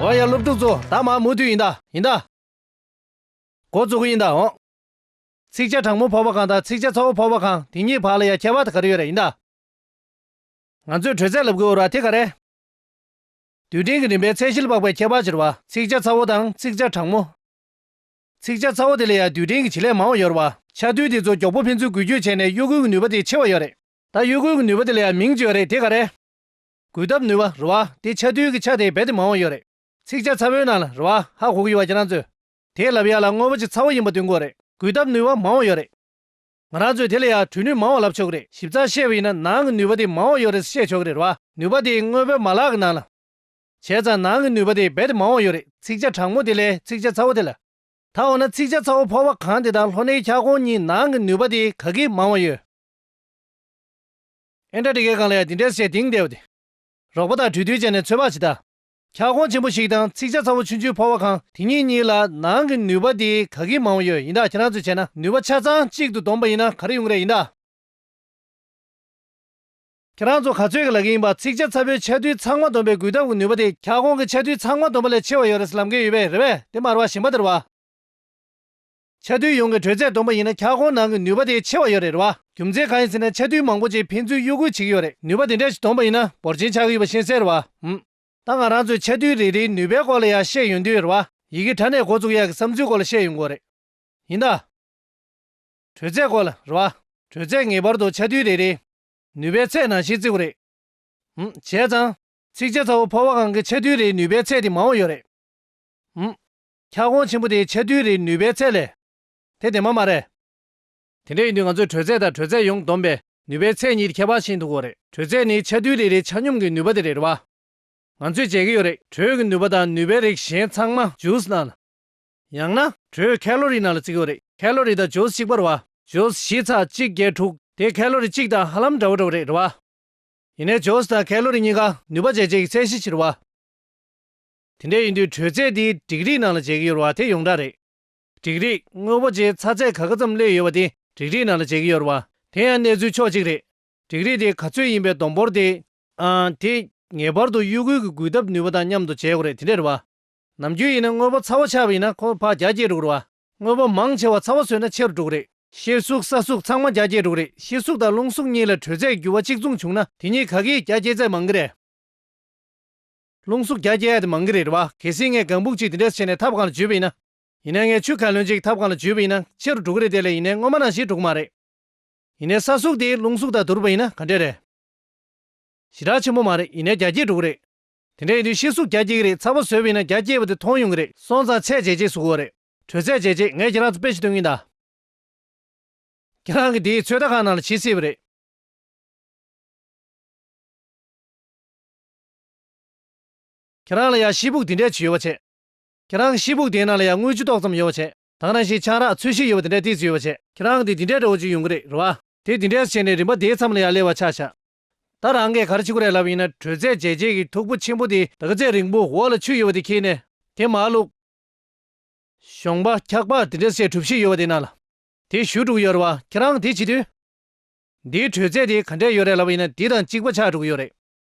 ཨོ་ཡ་སློབ་ཕྲུག་ཚོ་ད་མ་མུ་མཐུད་ཡིན་ད་ཡིན་ད། འགོ་བཙུགས་གི་ཡིན་ད་འོང། ཚིག་བཅད་དྲང་མོ་ཕོག་པ་གང་དང་ཚིག་བཅད་ཚ་བོ་ཕོག་པ་གང་དེ་གཉིས་བར་ལ་ཡ་ཁྱད་པ་ད་ག་རེ་ཡོད་རེད་ཡིན་ད། ང་ཚོས་དྲོད་ཚད་ལབ་དགོས་འོ་ར་དེ་ག་རེ། དུད་སྤྲིན་གྱི་རིམ་པའི་ཚད་གཞིར་དཔག་པའི་ཁྱད་པར་གྱི་ར་བ་ཚིག་བཅད་ཚ་བོ་དང་ཚིག་བཅད་དྲང་མོ། ཚིགས་བཅད་ཚ་བོ་དེ་ལས་ཡང་དུས་དྲན་གྱི་བྱེད་ལས་མང་བ་ཡོད་རེད་བ། ཆ་དུས་དེ་ཚོ་མགྱོགས་པོ་ཕན་ཚུན་འགུལ་སྐྱོད་བྱས་ནས་གཡོ་འགུལ་གྱི་ནུས་པ་དེ་ཆེ་བ་ཡོད་རེད། ད་གཡོ་འགུལ་གྱི་ནུས་པ་དེ་ལ་ཡང་མིང་བཅོས་རེད་དེ་ག་རེད། འགུལ་ཐབས་ནུས་པ་རེད་བ། དེ་ཆ་དུས་ཀྱི་ཆ་དེ་རྦད་དེ་མང་བ་ཡོད་རེད། ཚིགས་བཅད་ཚ་བོའི་ནང་ལ་རེད་བ། ཧ་གོ་གི་ཡོད་བ་ཁྱེད་རང་ཚོས། དེས་ལབ་ཡག་ལ་དངོས་པོ་ཅིག་ཚ་བོ་ཡིན་པ་སྟོན་དགོས་རེད། འགུལ་ཐབས་ནུས་པ་མང་བ་ཡོད་རེད། ང་རང་ཚོས་དེ་ལས་ཡང་གྲོལ་ནུས་མང་བ་ལབ་ཆོག་གི་རེད་ཞིབ་ཚགས་བཤད་པ་ཡིན་ན་ནང་གི་ནུས་པ་དེ་མང་བ་ཡོད་རེད་བཤད་ཆོག་གི་རེད་བ། ནུས་པ་དེ་དངོས་པོའི་མ་ལག་གི་ནང་ལ། བྱས་ཙང་ནང་གི་ནུས་པ་དེ་རྦད་དེ་མང་བ་ཡོད་རེད་ཚིགས་བཅད་དྲང་མོ་དེ་ལས་ཚིགས་བཅད་ཚ་བོ་དེ་ལ། ད་འོ་ན་ཚིགས་བཅད་ཚ་བོ་ཕོར་བ་གང་དེ་དང་ལྷོ་སྣེའི་འཁྱག་གོང་གཉིས་ནང་གི་ནུས་པ་དེ་ག་གིས་མང་བ་ཡོད། ཨེན་ཀྲ་ཀྲི་ཀའི་སྒང་ལ་ཡང་འདི་འདྲའི་བཤད་གཏིང་བདེ་བ་དེ། རོགས་པ་དང་གྲོས་བསྡུར་བྱས་ནས་ཚོད་དཔག་བྱེད་ད། འཁྱག་གོང་ཆེན་པོ་ཞིག་དང་ཚིགས་བཅད་ཚ་བོ་ཆུང་ཆུང་ཕོར་བ་གང་དེ་གཉིས་གཉིས་ལ་ནང་གི་ནུས་པ་དེ་ག་གིས་མང་བ་ཡོད་ཡིན་ད་ཁྱེད་རང་ཚོས་བྱས་ན་ནུས་པ་ཆ་ཚང་གཅིག་ཏུ་བསྡོམས་པ་ཡིན་ན་ག་རེ་ཡོང་གི་རེད་ཡིན་ད། ཁྱེད་རང་ཚོ་ག་ཚོད་ཀྱི་ལག་གི་ཡིན་པ་ཚིག་ཆ་ཚ་པོའི་ཆ་རྡུལ་ཚང་མ་འདོམས་པའི་འགུལ་ཐབས་ཀྱི་ནུས་པ་དེ་ཁྱག་ཀོང་གི་ཆ་རྡུལ་ཚང་མ་འདོམས་པ་ལས་ཆེ་བ་ཡོད་རེད་ལབ་མཁན་ཡོད་པས་རེད་བས་དེ་མར་བ་ཞིམ་པ་དེར་བ། ཆ་རྡུལ་ཡོངས་ཀྱི་དྲོད་ཚད་འདོམས་པ་ཡིན་ན་ཁྱག་ཀོང་ནང་གི་ནུས་པ་དེ་ཆེ་བ་ཡོད་རེད་རེད་བ། རྒྱུ་མཚན་གང་ཡིན་ཟེར་ན་ཆ་རྡུལ་མང་པོ་ཅིག་ཕན་ཚུན་གཡོ་འགུལ་བྱེད་ཀྱི་ཡོད་རེད་ནུས་པ་དེ་འདྲ་ཞིག་འདོམས་པ་ཡིན་ན་འབོར་ཆེན་ཆགས་ཀྱི་ཡོད་པ་ཤེས་གསལ་རེད་བ། ད་ང་རང་ཚོས་ཆ་རྡུལ་རེ་རེའི་ནུས་པའི་སྐོར་ལ་ཡང་བཤད་ཡོང་དུས་རེད་བ། ཡི་གེ་དྲ་གནས་འགོ་བཙུགས་ཡས་ཀྱི་བསམ་ཚུལ་སྐོར་ལ་བཤད་ཡོང་དགོས་རེད། ཡིན་ད། དྲོད་ཚད་སྐོར་ལ་རེད་བ། དྲོད་ཚད་ངེས་པར་དུ་ཆ་རྡུལ་རེ་རེའི། ནུས་པའི་ཚད་ནང་བཞིན་བརྩི་གོ་རེད། བྱས་ཙང། ཚིགས་བཅད་ཚ་བོ་ཕོར་བ་གང་གི་ཆ་རྡུལ་རེའི་ནུས་པའི་ཚད་དེ་མང་བོ་ཡོད་རེད། འཁྱགས་གོང་ཆེན་པོ་དེའི་ཆ་རྡུལ་རེའི་ནུས་པའི་ཚད་ལས། དེ་བདེན་པ་མ་རེད། དེ་འདྲ་ཡིན་དུས་ང་ཚོས་དྲོད་ཚད་དང་དྲོད་ཚད་ཡོངས་བསྡོམས་པའི་ནུས་པའི་ཚད་གཉིས་ཁྱད་པར་ཤིན་ཏུ་གོ་རེད། དྲོད་ཚད་ནི་ཆ་རྡུལ་རེ་རེའི་ཆ་སྙོམས་ཀྱི་ནུས་པ་དེ་རེད་བ། ང་ཚོས་མཇལ་གྱི་ཡོད་རེད། དྲོད་ཀྱི་ནུས་པ་དང་ནུས་པའི་རིགས་གཞན་ཚང་མ་ཇུས་ནང། ཡང་ན། དྲོད་ཁ་ལོ་རི་ནང་ལ་བརྩི་དགོས་རེད་ཁ་ལོ་རི་དང་ཇོས་གཅིག་པར་བ། ཇོས་བཞི་ཚ་གཅིག་བརྒྱད་དྲུག་དེ་ཁ་ལོ་རི་གཅིག་དང་ཧ་ལམ་འདྲ་བོ་འདྲ་བོ་རེད་རེད་བ། ཡིན་ནས་ཇོས་དང་ཁ་ལོ་རི་གཉིས་ཀ་ནུས་པ་འཇལ་བྱེད་ཀྱི་ཚད་གཞི་ཕྱིར་བ། དེ་འདྲ་ཡིན་དུས་དྲོད་ཚད་དེ་འགྲིག་རིགས་ནང་ལ་འཇལ་གྱི་ཡོད་བ་དེ་ཡོངས་གྲགས་རེད། འགྲིག་རིགས་དངོས་པོ་ཆེའི་ཚ་ཚད་ག་ག་ཙམ་སླེབས་ཡོད་བ་དེ་འགྲིག་རིགས་ནང་ལ་འཇལ་གྱི་ཡོད་བ། དེ་ཡང་གནས་ཚུལ་ཕྱོགས་གཅིག་རེད། འགྲིག་རིགས་དེ་ག་ཚོད་ཡིན་པའི་བསྡོམས་འབོར་དེ། ཨང། དེ་ངེས་པར་དུ་དབྱུག་གུ་གི་འགུལ་ཐབས་ནུས་པ་དང་མཉམ་དུ་འཇལ་དགོས་རེད་དེ་འདྲ་རེད་བ། ནམ་རྒྱུན་ཡིན་ན་དངོས་པོ་ཚ་བོ་ཆགས་པ་ཡིན་ན་ཁོ་ཕག་བརྒྱ་བརྒྱད་དྲུག་རེད་བ། དངོས་པོ་མང་ཆེ་བ་ཚ་བོ་ཟོས་ན་ཕྱིར་དྲུག་རེད། ཤེལ་གཟུགས་ས་གཟུགས་ཚང་མ་བརྒྱ་བརྒྱད་དྲུག་རེད་ཤེལ་གཟུགས་དང་རླུང་གཟུགས་གཉིས་ལ་དྲོད་ཚད་འགྱུར་བ་གཅིག་མཚུངས་བྱུང་ན་དེ་གཉིས་ག་གེའི་བརྒྱ་བསྐྱེད་ཚད་མང་གི་རེད། རླུང་གཟུགས་བརྒྱ་བསྐྱེད་ཡ་དེ་མང་གི་རེད་བ། གལ་སྲིད་ངས་གང་བུག་ཅིག་དེ་འདྲས་བྱས་ནས་ཐབ་གང་ལ་འཇུས་པ་ཡིན་ན། ཡིན་ན་ངས་ཆུ་གང་ལོན་ཅིག་ཐབ་གང་ལ་འཇུས་པ་ཡིན་ན་ཕྱིར་དྲུག་རེད་དེ་ལས་ཡིན་ན་སྔོན་མ་ནང་བཞིན་དྲུག་མ་རེད། ཡིན་ན་ས་གཟུགས་དེ་རླུང་གཟུགས་དང་བསྡུར་བ་ཡིན་ན་ག་འདྲས་རེད། ཞེ་དྲག་ཆེན་པོ་མ་རེད་ཡིན་ན་བརྒྱ་བརྒྱད་དྲུག་རེད། དེ་འདྲ་ཡིན་དུས་ཤི་གསོ་རྒྱ་སྐྱེད་གི་རེད་ཚ་བོ་བཟོས་བས་ན་རྒྱ་སྐྱེད་པ་དེ་མཐོང་ཡོང་གི་རེད་སོང་ཙང་ཚད་འཇལ་རྗེས་སུ་གོ་རེད་དྲོད་ཚད་འཇལ་རྗེས་ངས་ཁྱེད་རང་ཚོ་དཔེ་ཞིག་སྟོན་གིན་གདའ། ཁྱེད་རང་གི་དེའི་ཚོད་ལྟ་ཁང་ནང་ལ་བྱེད་སྲིད་པ་རེད། ཁྱེད་རང་ལ་ཡང་ཤི་སྦུག་དེ་འདྲས་ཅིག་ཡོད་པ་བྱེད། ཁྱེད་རང་གི་ཤི་སྦུག་དེའི་ནང་ལ་ཡང་དངུལ་ཆུ་ཏོག་ཙམ་ཡོད་པ་བྱེད་དང་རང་བཞིན་ཆང་རག་ཚོས་ཤིག་ཡོད་པ་དེ་འདྲས་དེ་ཚོ་ཡོད་པ་བྱེད། ཁྱེད་རང་གི་དེ་འདྲས་འདྲ་བོ་ཅིག་ཡོང་གི་རེད་རེད་བ། དེ་དེ་འདྲས་སུ་བྱས་ནས་རིམ་པ་དེའི་མཚམས་ལ་ཡང་སླེབས་བ་ཆགས་ཆགས། ད་རང་གིས་གར་བྱེད་ཁོ་རེ་ལབ་ཡིན་ན་དྲོད་ཚད་ཇེ་ཆེ་གི་འཐུག་པོ་ཆེན་པོ་དེ་དག་ཚད་རིང་པོ་འོག་ལ་ཆུ་ཡོད་པ་དེ་ཁྱེར་ནས་དེ་མ་བླུགས། གཞོང་པ་འཁྱག་པ་དེ་འདྲ་བཤད་གྲུབ་ཤིག་ཡོད་པ་དེ་ན་ལ། དེ་བཞུ་དྲུག་ཡོད་རེད་བ་ཁྱེད་རང་དེ་བྱེད་དུས། འདིའི་དྲོད་ཚད་དེ་ག་འདྲས་ཡོད་རེད་ལབ་ཡིན་ན་འདི་དང་གཅིག་པ་ཆགས་འགྲོ་གི་ཡོད་རེད།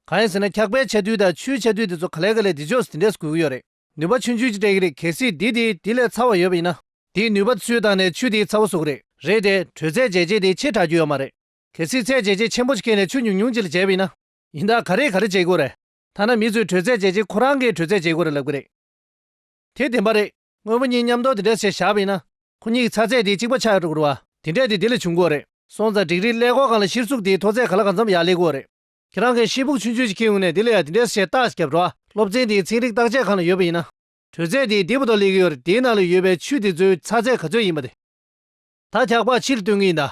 གང་ཡིན་ཟེར་ན་འཁྱག་པའི་ཆ་དུས་དང་ཆུའི་ཆ་དུས་དེ་ཚོ་ག་ལས་ག་ལས་དེ་ཕྱོགས་སུ་དེ་འདྲས་སུ་དགོས་ཀྱི་ཡོད་རེད། ནུས་པ་ཆུ་འཇུས་ཀྱི་སྤྲད་ཀྱི་རེད་གལ་སྲིད་འདི་དེ་དེ་ལས་ཚ་བ་ཡོད་པ་ཡིན་ན། དེའི་ནུས་པ་ཚུལ་བཏང་ནས་ཆུ་དེའི་ཚ་བ་བཟོ་གི་རེད། རེད་དེ་དྲོད་ཚད་ཇེ་ཆེ་དེ་ཆེས་དྲག་རྒྱུ་ཡོད་མ་རེད། དེ་སྲིད་ཚད་འཇལ་བྱེད་ཆེན་པོ་ཅིག་མཁན་ནས་ཆུ་ཉུང་ཉུང་ཅིག་ལ་འཇལ་བས་ན། ཡིན་ད་ག་རེ་ག་རེ་བྱེད་དགོས་རེད། ཐ་ན་མི་ཚོས་དྲོད་ཚད་འཇལ་བྱེད་ཁོ་རང་གིས་དྲོད་ཚད་འཇལ་དགོས་རེད་ལབ་གི་རེད། དེ་བདེན་པ་རེད། དངོས་པོ་གཉིས་མཉམ་འདོགས་དེ་འདྲ་བྱས་བཞག་པས་ན། ཁོ་གཉིས་ཀྱི་ཚ་ཚད་དེ་གཅིག་པ་ཆགས་ཡོད་དགོས་རུ་བ། དེ་འདྲས་དེ་དེ་ལས་བྱུང་དགོས་རེད། སོང་ཙང་འགྲིག་རིགས་ཀླད་ཀོར་གང་ལ་ཤིར་ཚུགས་དེའི་མཐོ་ཚད་ག་ལ་གང་འཚམ་ཡག་ལེགས་དགོས་རེད། ཁྱེད་རང་གིས་ཤེལ་ཕུག་ཆུང་ཆུང་ཅིག་ཁེངས་ཡོང་ནས་དེ་ལ་ཡང་དེ་འདྲས་བྱས་བཏགས་བརྒྱབ་རུ་བ། སློབ་ཚན་དེའི་ཚན་རིག་བརྟག་དཔྱད་ཁང་ལ་ཡོད་པ་ཡིན་ན། དྲོད་ཚད་དེ་དེ་བོ་ཏོ་ལེགས་ཀྱི་ཡོད་རེད་དེའི་ནང་ལ་ཡོད་པའི་ཆུ་དེ་ཚོའི་ཚ་ཚད་ག་ཚོད་ཡིན་པ་དེ། ད་འཁྱག་པགས་ཕྱིར་བཏོན་གི་ཡིན་ད།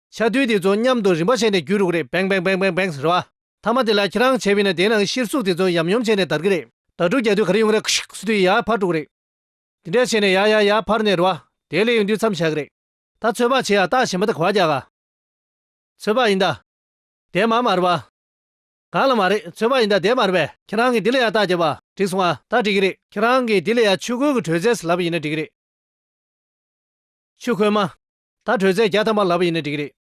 ཆ་རྡུལ་དེ་ཚོ་མཉམ་དུ་རིམ་པ་བྱས་ནས་བརྒྱུད་འགྲོ་གི་རེད་བེང་བེང་བེང་བེང་བེང་ཟེར་བ། མཐའ་མ་དེ་ལ་ཁྱེད་རང་བྱས་བས་ན་དེའི་ནང་གི་གཤེར་གཟུགས་དེ་ཚོ་ཡམ་ཡོམ་བྱས་ནས་དར་གི་རེད་དར་དྲུག་བརྒྱ་དུས་ག་རེ་ཡོང་གི་རེད་ཁུ་ཤིག་སུ་དུས་ཡར་འཕར་འགྲོ་གི་རེད། དེ་འདྲས་བྱས་ནས་ཡར་ཡར་ཡར་འཕར་ནས་འགྲོ་བ། དེའི་ལས་ཡོང་དུས་མཚམས་བཞག་གི་རེད། ད་ཚོད་དཔག་བྱས་ཡ་ལྟག་བྱེད་མ་ཐག་གོ་བ་རྒྱག་ག། ཚོད་དཔག་ཡིན་ད། དེ་མ་མར་བ། གང་ལ་མ་རེད་ཚོད་དཔག་ཡིན་ད་དེ་མར་བས། ཁྱེད་རང་གིས་དེ་ལ་ཡར་ལྟག་བརྒྱབ་བ། འགྲིག་སོང་ང། ད་འགྲིག་གི་རེད། ཁྱེད་རང་གིས་དེ་ལ་ཡར་ཆུ་ཁོལ་གྱི་དྲོད་ཚད་ཟེར་ལབ་པ་ཡིན་ན་འགྲིག་གི་རེད། ཆུ་ཁོལ་མ། ད་བྲོས་ཚད་བརྒྱ་ཐམ་པ་ལབ་པ་ཡིན་ན་འགྲིག་གི་རེད།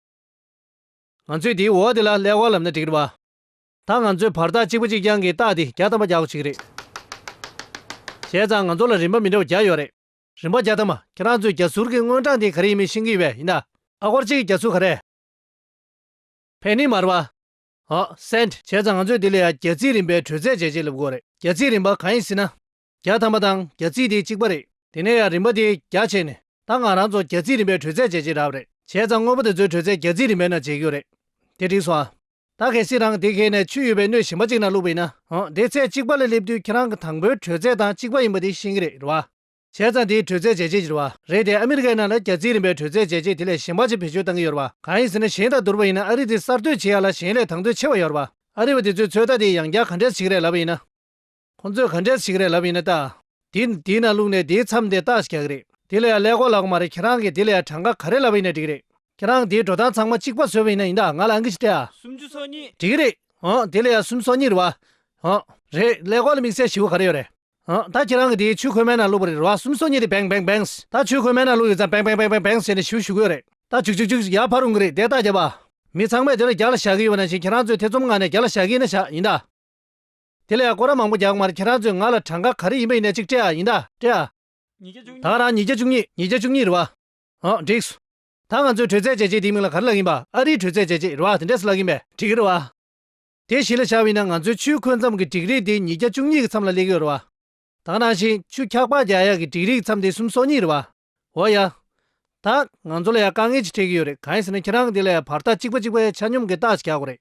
ང་ཚོས་དེའི་འོག་དེ་ལ་ཀླད་ཀོར་ལབ་ན་འགྲིག་གི་རེད། ད་ང་ཚོས་བར་ཐག་གཅིག་པ་གཅིག་རྐྱང་གི་རྟགས་དེ་བརྒྱ་ཐམ་པ་བརྒྱག་གོ་ཆིག་གི་རེད། བྱས་ཙང་ང་ཚོ་ལ་རིན་པ་མི་འདྲ་བ་བརྒྱ་ཡོད་རེད། རིན་པ་བརྒྱ་ཐམ་པ་ཁྱེད་རང་ཚོས་རྒྱ་ཟུར་གི་དངོས་གྲངས་དེ་ག་རེ་ཡིན་མིན་ཤེས་གི་ཡོད་ཡིན་ད། ཨ་སྒོར་གཅིག་གི་རྒྱ་ཟུར་ག་རེད། Penny མར་བ། Cent། བྱས་ཙང་ང་ཚོས་དེ་ལས་ཡང་རྒྱ་རྩིས་རིན་པའི་བྲོས་ཚད་འཇལ་བྱེད་ལབ་དགོས་རེད། རྒྱ་རྩིས་རིན་པ་གང་ཡིན་སྲིད་ན། བརྒྱ་ཐམ་པ་དང་བརྒྱ་རྩིས་དེ་གཅིག་པ་རེད། དེ་ནས་ཡང་རིམ་པ་དེ་བརྒྱ་བྱས་ནས་ད་ང་རང་ཚོ་བརྒྱ་རྩིས་རིམ་པའི་དྲོད་ཚད་འཇལ་གྱི་ར་བ་རེད། བྱས་ཙང་དངོས་པོ་དེ་ཚོའི་དྲོད་ཚད་བརྒྱ་རྩིས་རིམ་པའི་ནང་འཇལ་རྒྱུ་རེད། དེ་འགྲིག་སོང་ཨ། ད་གལ་སྲིད་རང་དེ་གས་ནས་ཆུ་ཡོད་པའི་སྣོད་ཞིམ་པ་གཅིག་ནང་བླུགས་པ་ཡིན་ན། འང་དེ་ཚད་གཅིག་པ་ལ་སླེབས་དུས་ཁྱེད་རང་གི་དང་པོའི་དྲོད་ཚད་དང་གཅིག་པ་ཡིན་པ་དེ་ཤེས་ཀྱི་རེད་རེད་བ། བྱས་ཙང་དེའི་དྲོད་ཚད་འཇལ་བྱེད་ཀྱི་རེད་བ། རེད་དེ་ཨ་མི་རི་ཀའི་ནང་ལ་བརྒྱ་རྩིས་རིམ་པའི་དྲོད་ཚད་འཇལ་བྱེད་དེ་ལས་ཞན་པ་ཅིག་བེད་སྤྱོད་བཏང་གི་ཡོད་རེད་བ། གང་ཡིན་ཟེར་ན་གཞན་དང་བསྡུར་བ་ཡིན་ན་ཨ་རི་དེ་གསར་གཏོད་བྱེད་ཡག་ལ་གཞན་ལས་དང་དོད་ཆེ་བ་ཡོད་རེད་བ། ཨ་རི་བ་དེ་ཚོའི་ཚོད་ལྟ་དེ་ཡང་བརྒྱ་ག་འདྲས་ཆིག་རེད་ལབ་པ་ཡིན་ན། ཁོང་ཚོས་ག་འདྲས་ཞིག་རེད་ལབ་ཡིན་ན་ལྟ། དེ་དེའི་ནང་བླུགས་ནས་དེའི་མཚམས་དེ་ལྟག་ཞག་རེད། དེ་ལ་ཡང་ཀླད་ཀོར་ལགས་མ་རེད་ཁྱེད་རང་གིས་དེ་ལ་ཡང་གྲངས་ཀ་ག་རེ་ལབ་ཡིན་ན་འགྲིག་རེད། ཁྱེད་རང་དེའི་འགྲོ་སྟངས་ཚང་མ་གཅིག་པ་བཟོས་པ་ཡིན་ན་ཡིན་ད་ང་ལ་ཨང་ཀི་ཞིག་སྟེ་ཨ། སུམ་ཅུ་སོ་གཉིས། འགྲིག་རེད། ཧཱུྃ་དེ་ལ་ཡང་སུམ་སོ་གཉིས་རེད་བ། ཧཱུྃ། རེད། ཀླད་ཀོར་ལ་དམིགས་བསལ་ཞི་བོ་ག་རེ་ཡོད་རེད། ཧཱུྃ་ད་ཁྱེད་རང་གིས་དེའི་ཆུ་ཁོལ་མའི་ནང་བླུགས་པ་རེད་བ་སུམ་སོ་གཉིས་རེད་བེང་བེང་བེངས་ད་ཆུ་ཁོལ་མའི་ནང་བླུགས་ཡོད་ཙང་བེང་བེང་བེང་བེང་བེངས་བྱས་ནས་ཞི་བོ་ཞུ་གི་ཡོད་རེད། ད་བྱུག་བྱུག་བྱུག་ཡར་འཕར་རུང་གི་རེད་དེ་ལྟག་བརྒྱབ་བ། མི་ཚང་མས་དེ་ལ་རྒྱག་ལ་བཞག་གི་ཡོད་པ་ནང་བཞིན་ཁྱེད་རང་ཚོས་ཐེ་ཚོམ་ངང་ནས་རྒྱག་ལ་བཞག་གི་ཡིན་ན་བཞག་ཡིན་ད། དེ་ལས་སྒོ་ར་མང་པོ་རྒྱག་མར་ཁྱེད་རང་ཚོས་ང་ལ་གྲངས་ཀ་ག་རེ་ཡིན་པ་ཡིན་ནའི་ཅིག་སྤྲད་ཨ་ཡིན་ད་སྤྲད་ཨ། ཉིས་བརྒྱ་བཅུ་ད་གཉིས། རང་ཉིས་བརྒྱ་བཅུ་གཉིས་ཉིས་བརྒྱ་བཅུ་གཉིས་རེད་བ། ཨོ་འགྲིགས། ད་ང་ཚོའི་དྲོད་ཚད་བཅད་རྗེས་དེའི་མིང་ལ་ག་རེ་ལགས་ཡིན་པ་ཨ་རིའི་དྲོད་ཚད་བཅད་རྗེས་རེད་བ་དེ་འདྲས་སུ་ལགས་ཡིན་པས་འགྲིགས་རེད་བ། དེ་གཞི་ལ་བཞག་བས་ན་ང་ཚོའི་ཆུའི་འཁོས་མཚམས་ཀྱི་འགྲིགས་རིགས་དེ་ཉིས་བརྒྱ་བཅུ་གཉིས་ཀྱི་མཚམས་ལ་སླེབས་ཡོད་རེད་བ། ད་ནང་བཞིན་ཆུ་འཁྱག་པགས་རྒྱག་ཡག་གི་འགྲིགས་རིགས་མཚམས་དེ་གསུམ་སོ་གཉིས་རེད་བ། འོ་ཡ། ད། ང་ཚོ་ལ་ཡང་དཀའ་ངལ་ཅིག་འཕྲད་ཀྱི་ཡོད་རེད་གང་ཡིན་ཟེར་ན་ཁྱེད་རང་གིས་དེ་ལ་ཡང་བར་ཐག་གཅིག་པ་གཅིག་པའི་ཆ་སྙོམས་ཀྱི་རྟགས་ཅིག་རྒྱག་དགོས་རེད།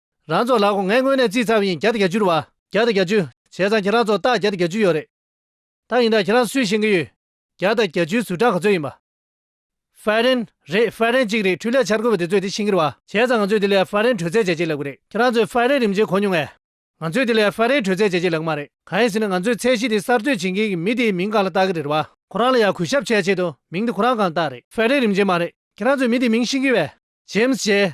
རང་ཚོ་ལགས་ངས་དངོས་གནས་རྩིས་ཚར་བ་ཡིན་བརྒྱ་དང་གྱ་བཅུར་བ། བརྒྱ་དང་གྱ་བཅུ། བྱས་ཙང་ཁྱེད་རང་ཚོ་རྟགས་བརྒྱ་དང་གྱ་བཅུ་ཡོད་རེད། ད་ཡིན་ན་ཁྱེད་རང་སུས་ཤེས་ཀྱི་ཡོད། བརྒྱ་དང་གྱ་བཅུའི་ཟུར་གྲངས་ག་ཚོད་ཡིན་པ། ཧྥ་རན། རེད་ཧྥ་རན་གཅིག་རེད་འཕྲུལ་ལས་འཆར་འགོད་པ་དེ་ཚོས་དེ་ཤེས་ཀྱིར་བ། བྱས་ཙང་ང་ཚོས་དེ་ལས་ཧྥ་རན་དྲོད་ཚད་བྱས་རྗེས་ལབ་གི་རེད་ཁྱེད་རང་ཚོས་ཧྥ་རན་རིམ་བྱེད་གོ་མྱོང་ངས། ང་ཚོས་དེ་ལས་ཧྥ་རན་དྲོད་ཚད་བྱས་རྗེས་ལབ་གི་མ་རེད་གང་ཡིན་ཟེར་ན་ང་ཚོས་ཚད་གཞི་དེ་གསར་གཏོད་བྱེད་མཁན་གྱི་མི་དེའི་མིང་གང་ལ་བཏགས་ཀྱི་རེད་བ། ཁོ་རང་ལ་ཡང་གུས་ཞབས་བྱས་ཆེད་དུ་མིང་དེ་ཁོ་རང་གང་བཏགས་རེད་ཧྥ་རན་རིམ་བྱེད་མ་རེད་ཁྱེད་རང་ཚོས་མི་དེའི་མིང་ཤེས་ཀྱི་བས། ཇེམ་སི་ཇེ།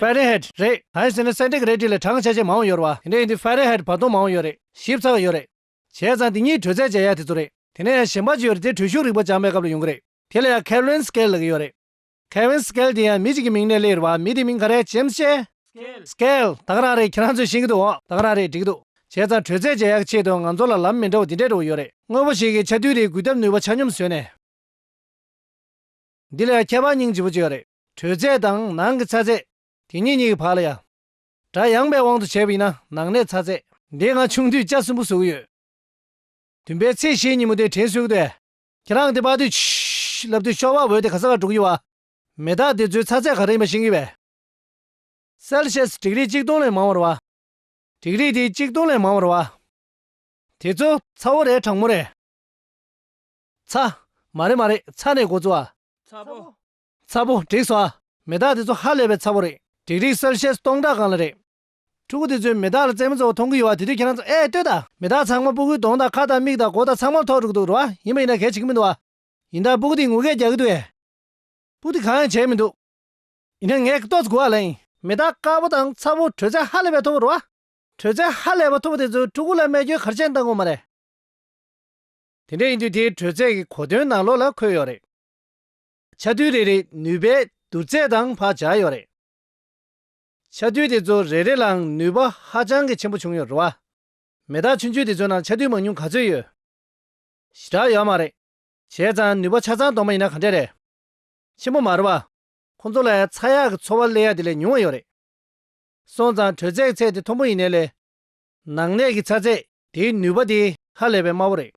Fahrenheit། རེད། ཧཱི་ཟེར་ནི་སེནྟི་གི་རེད་ཀྲི་ལས་གྲངས་ཆ་ཆེས་མང་བ་ཡོད་རེད་བ། དེ་འདྲ་ཡིན་དུས Fahrenheit བར་སྟོང་མང་བ་ཡོད་རེད། ཞིབ་ཚགས་ཡོད་རེད། བྱས་ཙང་དེ་གཉིས་དྲོད་ཚད་བྱས་ཡག་དེ་ཚོ་རེད། དེ་ནས་ཡང་གཞན་པ་ཅིག་ཡོད་རེད་དེ་དྲོད་ཤུགས་རིག་པ་སྦྱངས་པའི་སྐབས་ལ་ཡོང་གི་རེད། དེ་ལ་ཡང Kelvin Scale ལ་གི་ཡོད་རེད། Kelvin Scale དེ་ཡང་མི་ཅིག་གི་མིང་ནས་གླེང་ཡོད་རེད་བ། མི་དེའི་མིང་ག་རེད James ཆེ། Scale། དག་རང་རེད་ཁྱེད་རང་ཚོས་ཤེས་གི་འདུག་བ། དག་རང་རེད་འགྲིག་འདུག། བྱས་ཙང་དྲོད་ཚད་བྱས་ཡག་གི་ཆེད་དུ་ང་ཚོ་ལ་ལམ་མི་འདྲ་བ་འདི་འདྲ་འགྲོ་གི་ཡོད་རེད། དངོས་པོ་ཞིག་གི་ཆ་དུས་རེའི་འགུལ་ཐབས་ནུས་པ་ཆ་སྙོམས་བཟོས་ནས། འདི་ལ་ཡང་ཁྱད་པར་སྙིང་རྗེ་བོ་ཅིག་ཡོད་རེད། དྲོད་ཚད་དང་ནང་གི་ཚ་ཚད། དེ་གཉིས་གཉིས་ཀྱི་བར་ལ་ཡང། སྒྲ་ཡངས་པའི་དབང་དུ་བྱས་པ་ཡིན་ན་ནང་གནས་ཚ་ཚད། འདི་ང་ཆུང་དུས་ལྕགས་གསུམ་པོ་བཟོ་གི་ཡོད། བདུན་པའི་ཚེས་ཤེས་ཉིན་མོ་དེ་དྲན་གསོས་གི་འདུག་ཁྱེད་རང་དེ་དཔག་དུས། ལབ་དུས་ཤོག་བ་འོད་དེ་ག་ས་ག་འགྲོ་གི་ཡོད། མེ་སྟག་དེ་ཚོའི་ཚ་ཚད་ག་རེ་ཡིན་པ་ཤེས་གི་བས། Celsius དྲེག་རིགས་གཅིག་སྟོང་ལས་མང་བར་བ། དྲེག་རིགས་དེ་གཅིག་སྟོང་ལས་མང་བར་བ། དེ་ཚོ་ཚ་བོ་རེད་གྲང་མོ་རེད། ཚ། མ་རེད་མ་རེད་ཚ་ནས་འགོ་བཙུགས་ཨ། ཚ་བོ། ཚ་པོ་བྲེགས་སོ་ཨ། མེ་སྟག་དེ་ཚོ་ཧ་ལས་པའི་ཚ་པོ་རེད། བྲེགས་རིགས་གསལ་བཤད་སྟོང་ཕྲག་གང་ལ་རེད། ཕྲུ་གུ་དེ་ཚོས་མེ་སྟག་ལ་རྩེད་མོ་གཙོ་བོ་མཐོང་གི་ཡོད་བ་དེ་དུས་ཁྱེད་རང་ཚོ་ཨེ་ལྟོས་ད། མེ་སྟག་ཚང་མ་སྤུ་གུའི་གདོང་དང་ཁ་དང་མིག་དང་མགོ་དང་ཚང་མར་ཐོག་འགྲོ་གི་འདུག་རོ་ཨ་ཡིན་པ་ཡིན་ན་གལ་ཆེ་གི་མི་འདུག་ཨ། ཡིན་ད་སྤུ་གུ་དེས་ངུ་སྐད་རྒྱག་གི་འདུག་ཨེ། སྤུ་དེ་གང་ཡང་བྱས་མི་འདུག། ཡིན་ན་ངས་ཏོག་ཙི་གུ་ཨ་ལ་ཡིན། མེ་སྟག་དཀར་པོ་དང་ཚ་པོ་དྲོད་ཚད་ཧ་ལས་པའི་མཐོ་བོ་རོ་ཨ། དྲོད་ཚད་ཧ་ལས་པ་མཐོ་བོ་དེ་ཚོས་ཕྲུ་གུ་ལ་སྨྲས་སྐྱོན་གར་ཆེན་བཏང་གོ་མ་རེད། དེ་འདྲ་ཡིན་དུས་དེའི་དྲོད་ཚད་ཀྱི་གོ་དོན་ནང་ལོགས་ལ་འཁོད་ཡོད་རེད། ཆ་རྡུལ་རེ་རེའི་ནུས་པའི་བསྡུར་ཚད་དང་བག་ཆགས་ཡོད་རེད། ཆ་རྡུལ་དེ་ཚོ་རེ་རེ་ལའང་ནུས་པ་ཧ་ཅང་གི་ཆེན་པོ་བྱུང་ཡོད་རེད། མེ་སྟག་ཆུང་ཆུང་དེ་ཚོའི་ནང་ཆ་རྡུལ་མང་ཉུང་ག་ཚོད་ཡོད། ཞེ་དྲག་ཡོད་མ་རེད། བྱས་ཙང་ནུས་པ་ཆ་ཚང་གཏོང་མ་ཡིན་ན་ག་འདྲས་རེད། ཆེན་པོ་མ་རེད་པ། ཁོང་ཚོ་ལ་ཚ་ཡག་གི་འཚོ་བ་གླེ་ཡག་དེ་ལས་ཉུང་བ་ཡོད་རེད། སོང་ཙང་དྲོད་ཚད་ཚད་དེ་མཐོན་པོ་ཡིན་ནའི་ལས། ནང་གནས་ཀྱི་ཚ་ཚད་དེའི་ནུས་པ་དེ་ཧ་ལས་པའི་དམའ་བོ་རེད།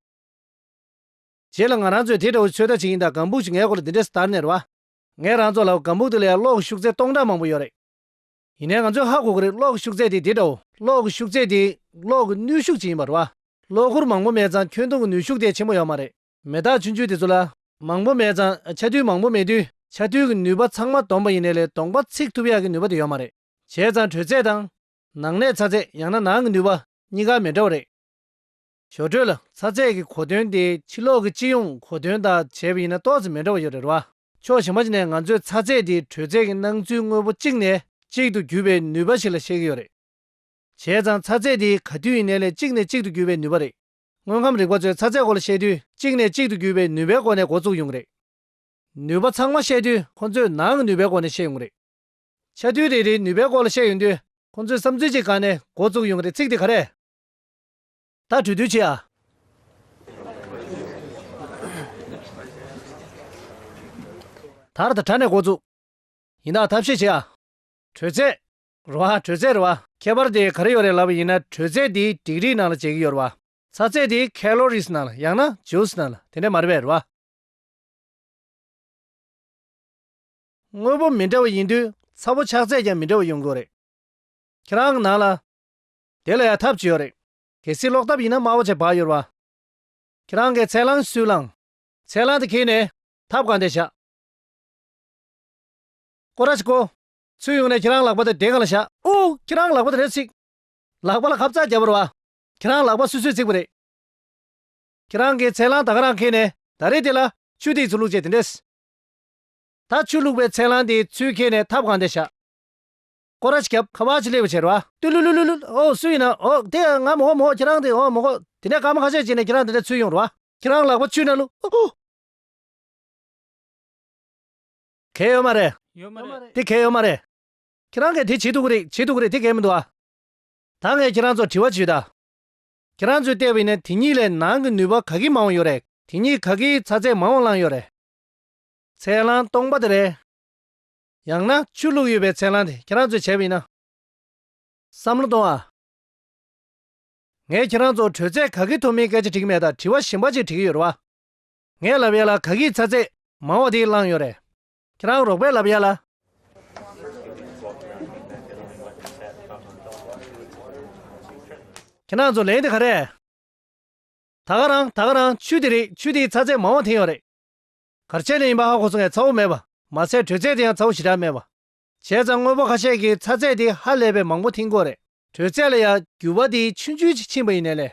བྱས་ལ་ང་རང་ཚོས་དེ་འདྲ་བོ་ཚོད་ལྟ་བྱེད་ཀྱིན་གདའ་གང་ཕུག་ཅིག་ངའི་གོ་ལ་འདི་འདྲས་སུ་དར་ནས་རེད་བ། ངས་རང་ཚོ་ལ་གང་ཕུག་དེ་ལ་ཡང་གློག་གི་ཤུགས་ཚད་སྟོང་ཕྲག་མང་པོ་ཡོད་རེད། ཡིན་ནའི་ང་ཚོས་ཧ་གོ་གི་རེད་གློག་གི་ཤུགས་ཚད་དེ་དེ་འདྲ་བོ། གློག་གི་ཤུགས་ཚད་དེ་གློག་གི་ནུས་ཤུགས་ཅིག་ཡིན་པ་རེད་བ། གློག་ཁུར་མང་པོ་མེད་ཙང་ཁྱོན་སྟོང་གི་ནུས་ཤུགས་དེ་ཆེན་པོ་ཡོད་མ་རེད། མེ་སྟག་ཆུ་མཆུ་དེ་ཚོ་ལ། མང་པོ་མེད་ཙང་ཆ་རྡུལ་མང་པོ་མེད་དུས་ཆ་རྡུལ་གྱི་ནུས་པ་ཚང་མ་བསྡོམས་པ་ཡིན་ནའི་ལས་སྟོང་པ་ཚིག་ཐུབ་ཡག་གི་ནུས་པ་དེ་ཡོད་མ་རེད། བྱས་ཙང་དྲོད་ཚད་དང། ནང་གནས་ཚ་ཚད་ཡང་ན་ནང་གི་ནུས་པ་གཉིས་ཀ་མི་འདྲ་བ་རེད། ཞོར་འཕྲོས་ལ་ཚ་ཚད་ཀྱི་གོ་དོན་དེ་ཕྱི་ལོགས་ཀྱི་སྤྱི་ཡོངས་གོ་དོན་དང་བྱས་པ་ཡིན་ན་ཏོག་ཙམ་མི་འདྲ་བ་ཡོད་རེད་བ། ཕྱོགས་ཞེན་པ་ཅིག་ནས་ང་ཚོས་ཚ་ཚད་དེ་དྲོད་ཚད་ཀྱི་སྣང་ཚུལ་དངོས་པོ་གཅིག་ནས་གཅིག་ཏུ་བརྒྱུད་པའི་ནུས་པ་ཞིག་ལ་བཤད་ཀྱི་ཡོད་རེད། བྱས་ཙང་ཚ་ཚད་དེ་ག་དུས་ཡིན་ནའི་ལས་གཅིག་ནས་གཅིག་ཏུ་བརྒྱུད་པའི་ནུས་པ་རེད། དངོས་ཁམས་རིག་པ་ཚོས་ཚ་ཚད་སྐོར་ལ་བཤད་དུས་གཅིག་ནས་གཅིག་ཏུ་བརྒྱུད་པའི་ནུས་པའི་སྒོ་ནས་འགོ་བཙུགས་ཡོང་གི་རེད། ནུས་པ་ཚང་མ་བཤད་དུས་ཁོ་ཚོས་ནང་གི་ནུས་པའི་སྒོ་ནས་བཤད་ཡོང་གི་རེད། ཆ་རྡུལ་རེ་རེའི་ནུས་པའི་སྐོར་ལ་བཤད་ཡོང་དུས་ཁོ་ཚོས་བསམ་ཚུལ་གཅིག་གང་ནས་འགོ་བཙུགས་ཡོང་གི་རེད་ཚིག་དེ་ག་རེད། ད་གྲོས་བསྡུར་བྱེད་ཨ། དར་དང་དྲ་ནས་འགོ་བཙུགས། ཡིན་ན་ཐབས་ཤེས་བྱེད་ཨ། དྲོད་ཚད། རོ་ཨ་དྲོད་ཚད་རོ་ཨ། ཁྱད་པར་དེ་ག་རེ་ཡོད་རེད་ལབ་པ་ཡིན་ན་དྲོད་ཚད་དེ་དིག་རིའི་ནང་ལ་བྱེད་ཀྱི་ཡོད་རོ་ཨ། ཚ་ཚད་དེ Calories ནང་ལ་ཡང་ན Joules ནང་ལ་དེ་འདྲ་མ་རེད་པས་རོ་ཨ། དངོས་པོ་མི་འདྲ་བ་ཡིན་དུས་ཚ་བོ་ཆགས་ཚད་ཀྱང་མི་འདྲ་བ་ཡོང་དགོས་རེད། ཁྱེད་རང་གི་ནང་ལ། དེ་ལ་ཡང་ཐབས་ཅི་ཡོད་རེད། གལ་སྲིད་ལོག་ཐབས་ཡིན་ན་སྨྲ་བོ་ཆེ་བག་ཡོད་པ། ཁྱེད་རང་གིས་ཚད་ལངས་སུས་ལངས། ཚད་ལངས་དེ་ཁེལ་ནས་ཐབས་གང་བདེ་བྱ། ཀོ་ར་ཅིག་གོ། ཚུར་ཡོང་ནས་ཁྱེད་རང་ལག་པ་དེ་དེ་ག་ལ་བཞག། ཨོ། ཁྱེད་རང་ལག་པ་དེ་རེ་ཚིག། ལག་པ་ལ་ཁབ་རྩག་བརྒྱབ་པར་བ། ཁྱེད་རང་ལག་པ་སུས་སུས་བརྩིགས་པ་རེད། ཁྱེད་རང་གིས་ཚད་ལངས་ད་ག་རང་ཁེལ་ནས་ད་རེ་དེ་ལ་ཆུ་དེ་ཡི་ཚུར་བླུགས་བྱས་དེ་འདྲས། ད་ཆུ་བླུགས་པའི་ཚད་ལངས་དེ་ཡི་ཚུལ་ཁེལ་ནས་ཐབས་གང་བདེ་བྱ། ཀོ་ར་ཅི་ཁབ་ཁ་བ་ཅི་ལེ་བ་ཆེར་བ། ཏུ་ལུ་ལུ་ལུ་ལུ། ཨོ་སུ་ཡིན་ན་ཨོ། དེ་ཡང་ང་མོ་ཧོ་མོ་ཧོ་ཁྱེད་རང་དེ་ཧོ་མོ་ཧོ། དེ་ནས་ཀ་མ་ཁ་ཤས་བྱས་ནས་ཁྱེད་རང་དེ་འདྲ་ཚུལ་ཡོང་རོ་བ། ཁྱེད་རང་ལག་པ་བཅུས་ན་ལུ། ཨོ་ཨོ། གས་ཡོད་མ་རེད། ཡོད་མ་རེད། དེ་གས་ཡོད་མ་རེད། ཁྱེད་རང་གས་དེ་བྱེད་འདུག་གི་རེད་བྱེད་འདུག་གི་རེད་དེ་གས་མི་འདུག་ཨ། ད་ངས་ཁྱེད་རང་ཚོར་དྲི་བ་བྱོས་ད། ཁྱེད་རང་ཚོས་བལྟས་པ་ཡིན་ན་དེ་གཉིས་ལས་ནང་གི་ནུས་པ་ག་གི་མང་བོ་ཡོད་རེད། དེ་གཉིས་ག་གིས་ཚ་ཚད་མང་བོ་བླངས་ཡོད་རེད། ཚད་བླངས་སྟོང་པ་དེ་རེད། ཡང་ན་ཆོས་ལུགས་ཡོད་པའི་ཚེ་ལངས་ཏེ་ཁྱེད་རང་ཚོས་བྱས་པ་ཡིན་ན། བསམ་བློ་གཏོང་ཨ། ངས་ཁྱེད་རང་ཚོར་དྲོད་ཚད་ག་གི་ཐོབ་མིན་སྐད་ཆ་དྲིས་མེད་ད་དྲི་བ་གཞན་པ་ཅིག་དྲི་གི་ཡོད་རེད་བ། ངས་ལབ་ཡ་ལ་ག་གིས་ཚ་ཚད་མང་བ་དེ་བླངས་ཡོད་རེད། ཁྱེད་རང་རོགས་པས་ལབ་ཡ་ལ། ཁྱེད་རང་ཚོ་ལན་དེ་ག་རེད། ད་ག་རང་ད་ག་རང་ཆུ་དེ་རིགས་ཆུ་དེའི་ཚ་ཚད་མང་བ་འཐེན་ཡོད་རེད། གར་ཆས་ནི་ཡིན་པ་ཧ་གོ་སོང་ངས་ཚ་བོ་མེད་པ། མ་ཟད་དྲོད་ཚད་དེ་ཡང་ཚ་བོ་ཞེ་དྲག་མེད་པ། བྱས་ཙང་དངོས་པོ་ཁ་ཤས་ཀྱི་ཚ་ཚད་དེ་ཧ་ལས་པའི་མང་པོ་འཐེན་ཁོ་རེད། དྲོད་ཚད་ལ་ཡང་འགྱུར་བ་དེ་ཆུན་ཆུན་ཞིག་ཕྱིན་པ་ཡིན་ནས་ལས།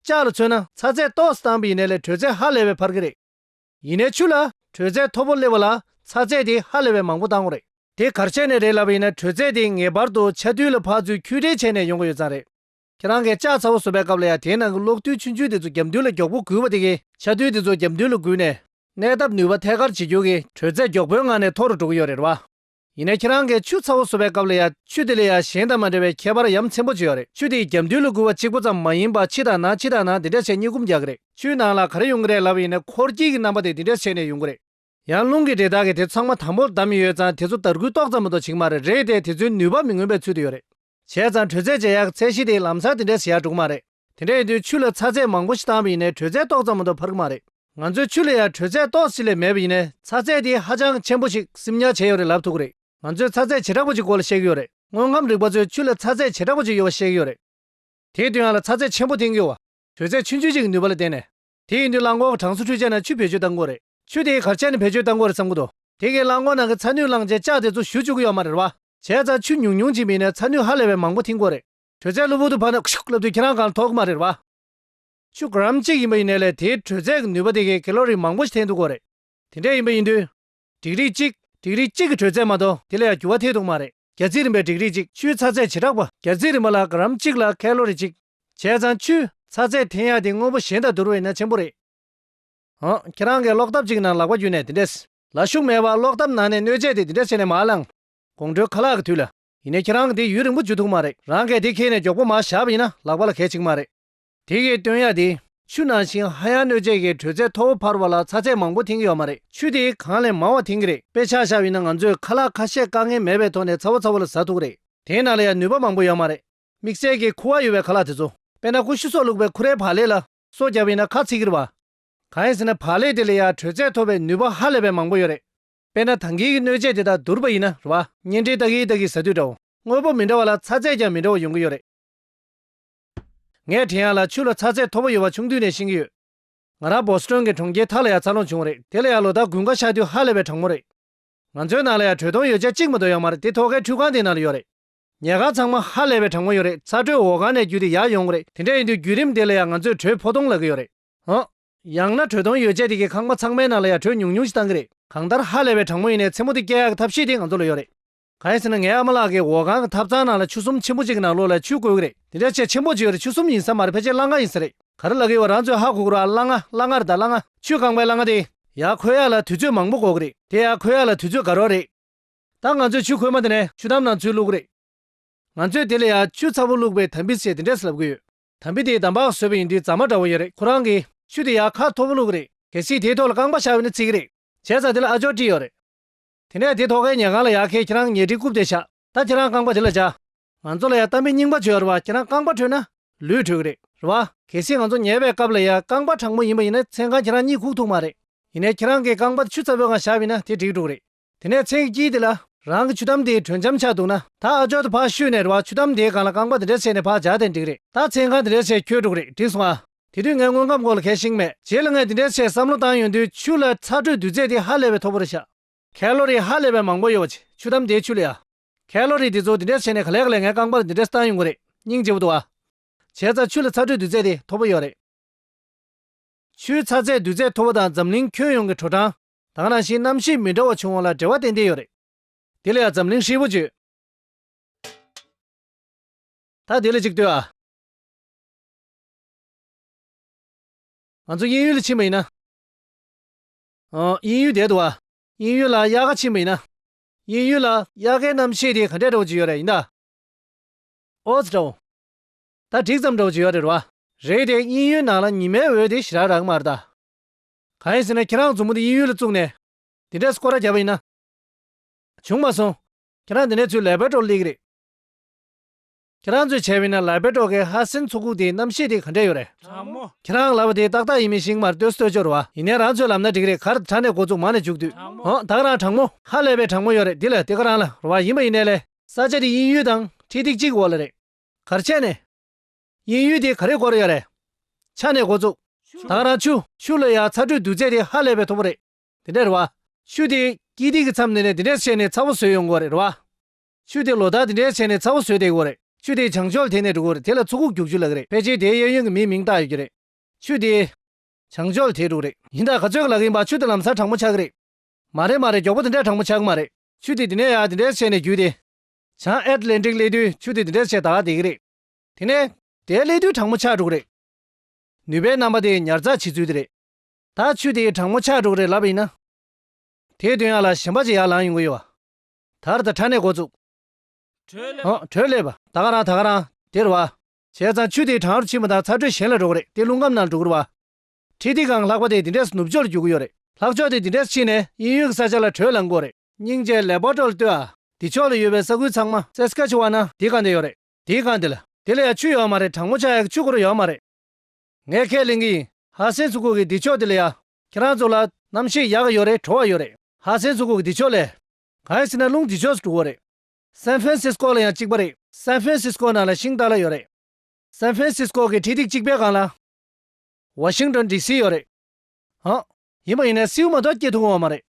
ལྕགས་ལ་མཚོན་ན་ཚ་ཚད་ཏོག་སུ་བཏང་པས་ཡིན་ནས་ལས་དྲོད་ཚད་ཧ་ལས་པའི་འཕར་གི་རེད། ཡིན་ནས་ཆུ་ལ་དྲོད་ཚད་མཐོ་པོ་སླེབས་པ་ལ་ཚ་ཚད་དེ་ཧ་ལས་པའི་མང་པོ་བཏང་ངོ་རེད། དེ་གར་ཆས་ནས་རེད་ལབ་པ་ཡིན་ན་དྲོད་ཚད་དེ་ངེས་པར་དུ་ཆ་རྡུལ་ལ་འཕགས་ཚུལ་འཁྱུད་འགྲེལ་བྱས་ནས་ཡོང་གི་ཡོད་ཙང་རེད། ཁྱེད་རང་གིས་ལྕགས་ཚ་བོ་བཟོ་པའི་སྐབས་ལ་ཡང་དེའི་ནང་གི་གློག་རྡུལ་ཆུ་འཇུག་དེ་ཚོ་རྒྱབ་མདུན་ལ་མགྱོགས་པོ་སྒུལ་བ་དེ་གིས། ཆ་རྡུལ་དེ་ཚོ་རྒྱབ་མདུན་ལ་སྒུལ་ནས། གནས་སྟབས་ནུས་པ་ཐད་ཀར་ཇེ་རྒྱུག་གིས་དྲོད་ཚད་མགྱོགས་པོའི་ངང་ནས་མཐོ་རུ་འགྲོ་གི་ཡོད་རེད་བ། ཡིན་ནས་ཁྱེད་རང་གིས་ཆུ་ཚ་བོ་བཟོ་བའི་སྐབས་ལ་ཡང་ཆུ་དེ་ལ་ཡང་གཞན་དང་མ་འདྲ་བའི་ཁྱད་པར་ཡམ་ཆེན་པོ་བྱེད་ཡོད་རེད་ཆུ་དེ་རྒྱབ་མདུན་ལ་སྒུལ་བ་གཅིག་པོ་ཙམ་མ་ཡིན་པར་ཕྱི་དང་ནང་ཕྱི་དང་ནང་འདི་འདྲ་བྱས་གཉིས་བསྐུམ་རྒྱག་གི་རེད་ཆུའི་ནང་ལ་ག་རེ་ཡོང་གི་རེད་ལབ་པ་ཡིན་ན་འཁོར་སྐྱིད་ཀྱི་རྣམ་པ་དེ་འདི་འདྲ་བྱས་ནས་ཡོང་གི་རེད། ཡང་རླུང་གི་འབྲས་དག་གིས་དེ་ཚང་མ་དང་པོར་བསྡམས་ཡོད་ཙང་དེ་ཚོ་དར་གུད་ཏོག་ཙམ་མ་གཏོགས་བྱིང་མ་རེད་རེད་དེ་དེ་ཚོའི་ནུས་པ་མི་མངོན་པའི་ཚུལ་དུ་ཡོད་རེད། བྱས་ཙང་དྲོད་ཚད་ཇེ་ཡག་གི་ཚད་གཞི་དེ་ལམ་སང་དེ་འདྲའི་ཞེ་ཡག་འགྲོ་གི་མ་རེད། དེ་འདྲ་ཡིན་དུས་ཆུ་ལ་ཚ་ཚད་མང་པོ་ཞིག་བཏང་བ་ཡིན་ནའི་དྲོད་ཚད་ཏོག་ཙམ་མ་གཏོགས་འཕར་གི་མ་རེད། ང་ཚོའི་ཆུ་ལ་ཡང་དྲོད་ཚད་ཏོག་ཅིག་ལས་མེད་པ་ཡིན་ནའི་ཚ་ཚད་དེ་ཧ་ཅང་ཆེན་པོ་ཞིག་སིམ་ཉག་བྱས་ཡོད་རེད་ལབ་ཐུབ་གི་རེད། ང་ཚོས་ཚ་ཚད་བྱེ་བྲག་པོ་ཅིག་སྐོར་ལ་བཤད་ཀྱི་ཡོད་རེད། དངོས་ཁམས་རིག་པ་ཚོས་ཆུ་ལ་ཚ་ཚད་བྱེ་བྲག་པོ་ཅིག་ཡོད་པ་བཤད་ཀྱི་ཡོད་རེད། དེའི་དུས་ཡང་ལ་ཚ་ཚད་ཆེན་པོ་འཐེན་དགོས། དྲོད་ཚད་ཆུང་ཆུང་ཅིག་གི་ནུས་པ་ལ་བརྟེན་ནས། དེ་ཡིན་དུས་གླང་གོག་གྲངས་སུ་ཁྲུས་བྱས་ན་ཆུ་བེད་སྤྱོད་སྟངས་གོ་རེད། ཆུ་དེའི་གར་ཆག་ནི་བེད་སྤྱོད་སྟངས་གོ་རེད་བསམ་གི་འདུག་དེ་གའི་གླང་གོག་ནང་གི་ཚ་ནུས་བླངས་རྗེས་ལྕགས་དེ་ཚོ་བཞུ་བཅུག་གི་ཡོད་མ་རེད་བ། བྱས་ཙང་ཆུ་ཉུང་ཉུང་ཅིག་མིན་ནས་ཚ་ནུས་ཧ་ལས་པའི་མང་པོ་འཐིང་གོ་རེད། དྲོད་ཚད་གློ་བུར་དུ་འཕར་ན་ཤུག་ལབ་དུས་ཁྱེད་རང་གང་ཐོག་གི་མ་རེད་བ། ཆུ་གྲམ་གཅིག་ཡིན་པ་ཡིན་ནས་ལས་དེའི་དྲོད་ཚད་ཀྱི་ནུས་པ་དེ་གའི་ཀེ་ལོ་རི་མང་པོ་ཞིག་འཐེན་ཐུབ་གོ་རེད། དེ་འདྲས་ཡིན་པ་ཡིན་དུས། སྒྲིག་རིགས་གཅིག། སྒྲིག་རིགས་གཅིག་གི་དྲོད་ཚད་མ་གཏོགས་དེ་ལ་ཡང་འགྱུར་བ་ཐེག་ཐུབ་མ་རེད། རྒྱ་རྩིས་རིམ་པའི་སྒྲིག་རིགས་གཅིག་ཆུའི་ཚ་ཚད་བྱེ་བྲག་པ། རྒྱ་རྩིས་རིམ་པ་ལ་གྷ་རམ་གཅིག་ལ་ཁལ་ལོ་རི་གཅིག། བྱས་ཙང་ཆུའི་ཚ་ཚད་འཐེན་ཡག་དེ་དངོས་པོ་གཞན་དང་བསྡུར་བས་ན་ཆེན་པོ་རེད། ཨང། ཁྱེད་རང་གིས་ཀློག་སྟབས་གཅིག་ནང་ལག་པ་བརྒྱུས་ནས་དེ་འདྲས། ལ་ཤུགས་མེད་པར་ཀློག་སྟབས་ནང་ནས་གནོད་བྱེད་དེ་དེ་འདྲས་བྱས་ནས་མར་བླངས། དགོང་དྲོའི་ཁ་ལག་གི་དུས་ལ། ཡིན་ནའི་ཁྱེད་རང་གིས་དེ་ཡུན་རིང་པོ་འཇུ་ཐུབ་མ་རེད། རང་གས་དེ་ཁེལ་ནས་མགྱོགས་པོ་མར་བཞག་པ་ཡིན་ན་ལག་པ་ལ་གལ་ཆིག་མ་རེད། དེ་གའི་སྟོན་ཡག་དེ། ཆུ་ནང་བཞིན་ཧ་ཡང་གནོད་བྱེད་ཀྱི་དྲོད་ཚད་མཐོ་བོ་འཕར་བ་ལ་ཚ་ཚད་མང་པོ་འཐེན་གྱི་ཡོད་མ་རེད་ཆུ་དེ་གང་ལས་མང་བ་འཐེན་གྱི་རེད་དཔེ་ཆ་བཞག་ཡོད་ན་ང་ཚོས་ཁ་ལག་ཁ་ཤས་དཀའ་ངལ་མེད་པའི་ཐོག་ནས་ཚ་བོ་ཚ་བོ་ལ་ཟ་ཐུག་རེད། དེའི་ནང་ལ་ཡང་ནུས་པ་མང་པོ་ཡོད་མ་རེད། དམིགས་བསལ་གྱི་ཁུ་བ་ཡོད་པའི་ཁ་ལག་དེ་ཚོ། དཔེར་ན་ཀུ་ཤུ་སོགས་བླུགས་པའི་ཁུ་རའི་བག་ལེབ་ལ་སོ་བརྒྱབ་ཡོད་ན་ཁ་ཚིག་གིར་བ། གང་ཡིན་ཟེར་ན་བག་ལེབ་དེ་ལ་ཡང་དྲོད་ཚད་མཐོ་བའི་ནུས་པ་ཧ་ལས་པའི་མང་པོ་ཡོད་རེད། དཔེར་ན་ཐང་གིག་གི་གནོད་བྱེད་དེ་དག་དུར་བ་ཡིན་ན་རུ་བ། གཉེན་སྒྲིག་སྟག་གིག་དག་གིས་ཟ་དུས་འདྲ་བོ། དངོས་པོ་མི་འདྲ་བ་ལ་ཚ་ཚད་ཀྱང་མི་འདྲ་བོ་ཡོང་གི་ཡོད་རེད། ངའི་དྲན་ཡག་ལ་ཆུ་ལ་ཚ་ཚད་མཐོ་པོ་ཡོད་པ་ཆུང་དུས་ནས་ཤེས་ཀྱི་ཡོད། ང་རང་བོ་སི་ཀྲོན་གྱི་གྲོང་ཁྱེར་དྷ་ལ་ཡར་འཚར་ལོངས་བྱུང་བ་རེད་དེ་ལ་ཡར་ལོ་ཟླ་དགུན་ཁ་ཤགས་དུས་ཧ་ལས་པའི་གྲང་མོ་རེད། ང་ཚོའི་ནང་ལ་ཡར་དྲོད་གཏོང་ཡོ་བྱད་གཅིག་མ་གཏོགས་ཡང་མ་རེད་དེ་ཐོག་ཁའི་ཁྲུས་ཁང་དེའི་ནང་ལ་ཡོད་རེད། ཉལ་ཁང་ཚང་མ་ཧ་ལས་པའི་གྲང་མོ་ཡོད་རེད་ཚ་དྲོད་འོག་གང་ནས་བརྒྱུད་དེ་ཡར་ཡོང་གི་རེད་དེ་འདྲ་ཡིན་དུས་བརྒྱུད་རིམ་དེ་ལ་ཡང་ང་ཚོས་དྲོད་ཕོ་གཏོང་ལ་གི་ཡོད་རེད། ཧཱ། ཡང་ན་དྲོད་གཏོང་ཡོ་བྱད་དེ་གའི་ཁང་པ་ཚང་མའི་ནང་ལ་ཡར་དྲོད་ཉུང་ཉུང་ཞིག་བཏང་གི་རེད། གང་ལྟར་ཧ་ལས་པའི་གྲང་མོ་ཡིན་ནའི་མཚན་མོ་དེ་སྐྱེལ་ཡག་གི་ཐབས་ཤེས་དེ་ང་ཚོ་ལ་ཡོད་རེད། གང་ཡིན་ཟེར་ན་ངའི་ཨ་མ་ལགས་ཀྱི་འོག་ཁང་གི་ཐབ་ཚང་ནང་ལ་ཆུ་སུམ་ཆེན་པོ་གཅིག་གི་ནང་ལོགས་ལ་ཆུ་བརྐོས་ཀྱི་རེད་དེ་འདྲ་ཆེ་ཆེན་པོ་གཅིག་རེད་ཆུ་སུམ་ཡིན་ས་མ་རེད་ཕལ་ཆེར་གླ་མཁར་ཡིན་ས་རེད་ག་རེ་ལ་གི་བ་རང་ཚོས་ཧ་གོ་གི་རོ་ཨ་གླ་མཁར་གླ་མཁར་རེད་ད་གླ་མཁར་ཆུ་རྐང་པའི་གླ་མཁར་དེ་ཡག་ཁོད་ཡག་ལ་དུས་ཚོད་མང་པོ་འགོར་གི་རེད་དེ་ཡག་ཁོད་ཡག་ལ་དུས་ཚོད་འགའ་རོགས་རེད་ད་ང་ཚོས་ཆུ་ཁོལ་མ་དེ་ནས་ཆུ་དམ་ནང་ཚུད་བླུག་གི་རེད་ང་ཚོས་དེ་ལ་ཡག་ཆུ་ཚ་བོ་བླུག་པའི་དམ་བི་ཟེར་དེ་འདྲས་ལབ་གི་ཡོད་དམ་བི་དེའི་འདམ་བག་བཟོས་པ་ཡིན་དུས་རྫ་མ་འདྲ་བོ་ཡོད་རེད་ཁོ་རང་གིས་ཆུ་དེ་ཡག་ཁ་མཐོ་བོ་བླུག་གི་རེད་གལ་སྲིད་དེའི་ཐོག་ལ་རྐང་པ་བཞག་ཡོད་ན་བརྩིགས་གི་རེད་བྱས་ཙང་དེ་ལ་ཨ་ཅོག་བྲིས་ཡོད་རེད། དེ་ནས་དེ་ཐོག་ཁའི་ཉལ་ཁང་ལ་ཡར་ཁས་ཁྱེད་རང་ཉལ་ཁྲིའི་རྐུབ་དེ་བཞག་ད་ཁྱེད་རང་རྐང་པ་དེ་ལ་བཅའ། ང་ཚོ་ལ་ཡང་གཏམ་དཔེ་རྙིང་པ་བྱོས་ར་བ་ཁྱེད་རང་རྐང་པ་བྲོས་ན་ལུས་བྲོས་གི་རེད་ར་བ། གལ་སྲིད་ང་ཚོ་ཉལ་བའི་སྐབས་ལ་ཡང་རྐང་པ་དྲང་མོ་ཡིན་པ་ཡིན་ན་མཚན་གང་ཁྱེད་རང་གཉིད་ཁུག་ཐུག་མ་རེད། ཡིན་ནས་ཁྱེད་རང་གི་རྐང་པ་དེ་ཆུ་ཚ་བོའི་ངང་བཞག་བས་ན་དེ་འགྲིག་འགྲོ་གི་རེད། དེ་ནས་མཚན་གྱི་དཀྱིལ་དེ་ལ། རང་གི་ཆུ་དམ་དེའི་དྲོད་འཇམ་ཆགས་འདུག་ན་ད་ཨ་ཅོག་དེ་ཕར་བཤུས་ནས་ར་བ་ཆུ་དམ་དེའི་སྒང་ལ་རྐང་པ་དེ་འདྲ་བྱས་ནས་ཕར་བཞག་དེ་འགྲིག་གི་རེད་ད་མཚན་གང་དེ་འདྲ་བྱས་ཁྱོད་འགྲོ་གི་རེད་འགྲིག་སོང་ཨ། དེ་དུས་ངའི་དངོས་ཁམས་སྐོར་ལ་གལ་ཤིང་མེད། རྗེས་ལ་ངས་འདི་འདྲའི་ཆེད་བསམ་བློ་བཏང་ཡོང་དུས་ཆུ་ལ་ཚ་དྲོད་འདུས་ཚད་དེ་ཧ་ལས་པའི་མཐོ་པོ་རེད་བཞག། ཁལ་ལོ་རི་ཧ་ལས་པའི་མང་པོ་ཡོད་པ་ཆེ་ཆུ་དམ་དེའི་ཆུ་ལས་ཡ། ཁལ་ལོ་རི་འདི་ཚོ་འདི་འདྲའི་ཆེ་ནས་ག་ལས་ག་ལས་ངའི་རྐང་པར་འདི་འདྲའི་སྟངས་ཡོང་གི་རེད་སྙིང་རྗེ་བོ་འདུག་ཨ། བྱས་ཙང་ཆུ་ལ་ཚ་དྲོད་འདུས་ཚད་དེ་མཐོ་པོ་ཡོད་རེད། ཆུའི་ཚ་ཚད་འདུས་ཚད་མཐོ་པོ་དང་འཛམ་གླིང་ཁྱོན་ཡོངས་ཀྱི་དྲོ་གྲང་དང་རང་བཞིན་གནམ་གཤིས་མི་འདྲ་བ་བྱུང་བ་ལ་འབྲེལ་བ་ཏན་ཏན་ཡོད་རེད། དེ་ལ་ཡང་འཛམ་གླིང་ཧྲིལ་པོ་བརྗོད། ད་དེ་ལ་གཅིག་ལྟོས་ཨ། ང་ཚོ་དབྱིན་ཡུལ་ལ་ཕྱིན་པ་ཡིན་ན། དབྱིན་ཡུལ་བསྡད་འདུག་ཨ། དབྱིན་ཡུལ་ལ་དབྱར་ཁ་ཕྱིན་པ་ཡིན་ན། དབྱིན་ཡུལ་ལ་དབྱར་ཁའི་གནམ་གཤིས་དེ་ག་འདྲས་འདྲ་བོ་ཅིག་ཡོད་རེད་ཡིན་ད། ཨོས་འདྲ་བོ། ད་འགྲིག་ཙམ་འདྲ་བོ་ཅིག་ཡོད་རེད་རེད་བ། རེད་དེ་དབྱིན་ཡུལ་ནང་ལ་ཉི་མའི་འོད་དེ་ཞི་རག་རག་གི་མ་རེད་ད། གང་ཡིན་ཟེར་ན་ཁྱེད་རང་མཛུབ་མོ་དེ་དབྱིན་ཡུལ་ལ་བཙུགས་ནས། དེ་འདྲས་སུ་སྐོར་ར་རྒྱབ་པ་ཡིན་ན། བྱུང་མ་སོང། ཁྱེད་རང་དེ་འདྲའི་ཚུལ་ལས་བལ་བྲོ་ལེགས་རེད། ཁྱེད་རང་ཚོས་བྱས་པའི་ནས་ལར་པེ་ཏྲོ་ཀའི་ཧ་སིན་ཚུགས་ཁུག་དེའི་རྣམ་ཤེས་དེ་ག་འདྲས་ཡོད་རེད། ཁྱེད་རང་ལབ་པ་དེ་ཏག་ཏག་ཡིན་མིན་ཞིག་མར་ལྟོས་སུ་ལྟོས་ཅོར་བ་ཡིན་ནའི་རང་ཚོའི་ལབ་ན་འགྲིག་རེད་གར་དྲ་ནས་འགོ་བཙུགས་མང་ནས་འཇུག་དུས་འོང་དག་རང་དྲང་མོ། ཧ་ལས་པའི་དྲང་མོ་ཡོད་རེད་འདི་ལ་དེ་ག་རང་ལ་རོ་བ་ཡིན་པ་ཡིན་ནའི་ལས། ས་ཆ་དེ་དབྱིན་ཡུལ་དང་ཁྲི་ཐིག་གཅིག་གི་འོག་ལ་རེད། གར་ཆས་ནས། དབྱིན་ཡུལ་དེ་ག་རེ་སྐོར་ཡོད་རེད། ཆ་ནས་འགོ་བཙུགས། དག་རང་ཆུ། ཆུ་ལ་ཡ་ཚ་དྲོད་འདུག་ཚད་དེ་ཧ་ལས་པའི་མཐོ་པོ་རེད། དེ་འདྲས་རོ་བ། ཆུ་དེ། དཀྱིལ་ཐིག་གི་མཚམས་ནས་ནས་དེ་འདྲས་སུ་བྱས་ནས་ཚ་བོ་བཟོས་ཡོང་དགོས་རེད་རོ་བ། ཆུ་དེ་ལོ་ཟླ་འདི་འདྲའི་ཆེ་ནས་ཚ་བོ་ཟོས་བསྡད་གི་རེད། ཆུ་དེའི་བྱང་ཕྱོགས་ལ་དེད་ནས་འགྲོ་གི་རེད་དེ་ལ་མཚོ་ཁུག་རྒྱུག་ཆུ་ལགས་རེད་ཕལ་ཆེར་དེའི་གཡས་གཡོན་གྱི་མིའི་མིང་བཏགས་ཡོད་ཀྱི་རེད། ཆུ་དེའི་བྱང་ཕྱོགས་ལ་དེད་འགྲོ་གི་རེད། ཡིན་ད་ག་ཚོད་ཀྱི་ལག་ཡིན་པ་ཆུ་དེ་ལམ་སར་དྲང་མོ་ཆགས་ཀྱི་རེད། མ་རེད་མ་རེད་མགྱོགས་པོ་དེ་འདྲ་དྲང་མོ་ཆགས་གི་མ་རེད། ཆུ་དེ་དེ་ནས་ཡར་དེ་འདྲའི་ཆེ་ནས་བརྒྱུད་དེ། བྱང་ཨེད་ལན་ཀྲིག་སླེབས་དུས་ཆུ་དེ་དེ་འདྲའི་ཆེ་ད་དེད་ཀྱི་རེད། དེ་ནས་དེ་སླེབས་དུས་དྲང་མོ་ཆགས་འགྲོ་གི་རེད། ནུས་པའི་རྣམ་པ་དེ་ཉར་ཚགས་བྱེད་ཚུལ་དེ་རེད། ད་ཆུ་དེ་དྲང་མོ་ཆགས་འགྲོ་གི་རེད་ལབ་པ་ཡིན་ན། དེའི་དོན་ཡར་ལ་ཞེན་པ་ཅིག་ཡར་ལངས་ཡོང་གི་ཡོད། དར་དང་ཁྲ་ནས་འགོ་བཙུགས། བྲོས་ལས་པ་ད་ག་རང་ད་ག་རང་དེར་བ། བྱས་ཙང་ཆུ་དེའི་གྲང་རུ་ཕྱིན་པ་དང་ཚ་དྲོད་གཞན་ལ་འགྲོ་གི་རེད་དེ་རླུང་ཁམས་ནང་འགྲོ་གི་རུ་བ། ཁྲི་ཐིག་གང་ལྷག་པ་དེ་འདི་འདྲས་སུ་ནུབ་ཕྱོགས་ལ་རྒྱུག་གི་ཡོད་རེད་ལྷག་ཕྱོགས་དེ་འདི་འདྲས་སུ་ཕྱིན་ནས་དབྱིན་ཡུལ་གི་ས་ཆ་ལ་བྲོས་ལ་འགོ་རེད། སྙིང་རྗེ་ལེགས་པར་དཀྲོལ་ལྟོས་ཨ། འདི་ཕྱོགས་ལ་ཡོད་པའི་ས་ཁུལ་ཚང་མ་སེ་སྐ་ཆུ་བ་ན་དེའི་སྒང་དེ་ཡོད་རེད་དེའི་སྒང་དེ་ལ་དེ་ལ་ཡང་ཆུ་ཡོད་མ་རེད་དྲང་མོ་ཆ་ཡག་གི་ཆུ་འགོ་རུ་ཡོད་མ་རེད། ངས་ཁས་ལེན་གི་ཡིན་ཧ་སེན་སུ་ཁུག་གི་འདི་ཕྱོགས་དེ་ལ་ཡང་ཁྱེད་རང་ཚོ་ལ་གནམ་གཤིས་ཡག་ཡོད་རེད་དྲོ་བ་ཡོད་རེད། ཧ་སན་ཚོ་གུག་འདི་ཕྱོགས་ལས། གང་ཡིན་ཟེར་ན་རླུང་འདི་ཕྱོགས་སུ་དཀྲུག་བོ་རེད། སན་ཧྥན་སིས་ཀོ་ལ་ཡང་གཅིག་པ་རེད། སན་ཧྥན་སིས་ཀོ་ནང་ལ་ཤིང་རྟ་ལ་ཡོད་རེད། སན་ཧྥན་སིས་ཀོ་གི་ཁྲི་སྟེགས་གཅིག་པའི་སྒང་ལ། ཝ་ཤིང་ཏོན་ཏི་སི་ཡོད་རེད། ཧ། ཡིན་པ་ཡིན་ན་སེའུ་མ་དག་སྐྱེ་ཐུབ་འོང་བ་མ་རེད།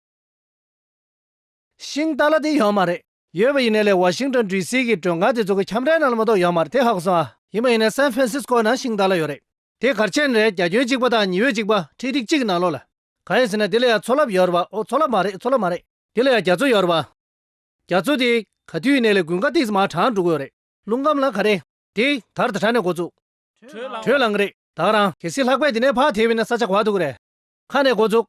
ཤིང་རྟ་ལ་དེ་ཡོད་མ་རེད། ཡོད་པ་ཡིན་ནའི་ལས་བ་ཤིང་རྟ་འདྲུད་སའི་གི་དྲོད་འགའ་དེ་ཚོ་གི་ཁྱམས་རའི་ནང་ལ་མ་གཏོགས་ཡོད་མ་རེད་དེ་ཧག་སོང་ཨ། ཡིན་པ་ཡིན་ནའི་སན་ཧྥེན་སིས་ཀོའི་ནང་ཤིང་རྟ་ལ་ཡོད་རེད། དེ་གར་ཆེན་རེད་རྒྱ་ཁྱོན་གཅིག་པ་དང་ཉི་འོད་གཅིག་པ་ཁྲི་ཐིག་གཅིག་གི་ནང་ལོགས་ལ། གང་ཡིན་ཟེར་ན་དེ་ལ་ཡང་མཚོ་རླབས་ཡོད་རེད་བ་ཨོ་མཚོ་རླབས་མ་རེད་མཚོ་རླབས་མ་རེད། དེ་ལ་ཡང་རྒྱ་མཚོ་ཡོད་རེད་བ། རྒྱ་མཚོ་དེ། ག་དུས་ཡིན་ནའི་ལས་དགུན་ཁ་ཏིགས་མ་གྲང་འགྲོ་གི་ཡོད་རེད། རླུང་སྐམ་ལ་ག་རེད། དེ། དར་དྲ་ནས་འགོ་བཙུགས། དྲོད་ལངས་བ་རེད། དག་རང། གལ་སྲིད་ལྷག་པས་དེ་ནས་ཕག་དེ་བས་ན་ས་ཆ་ག་དུག་རེད། ཁ་ནས་འགོ་བཙུགས།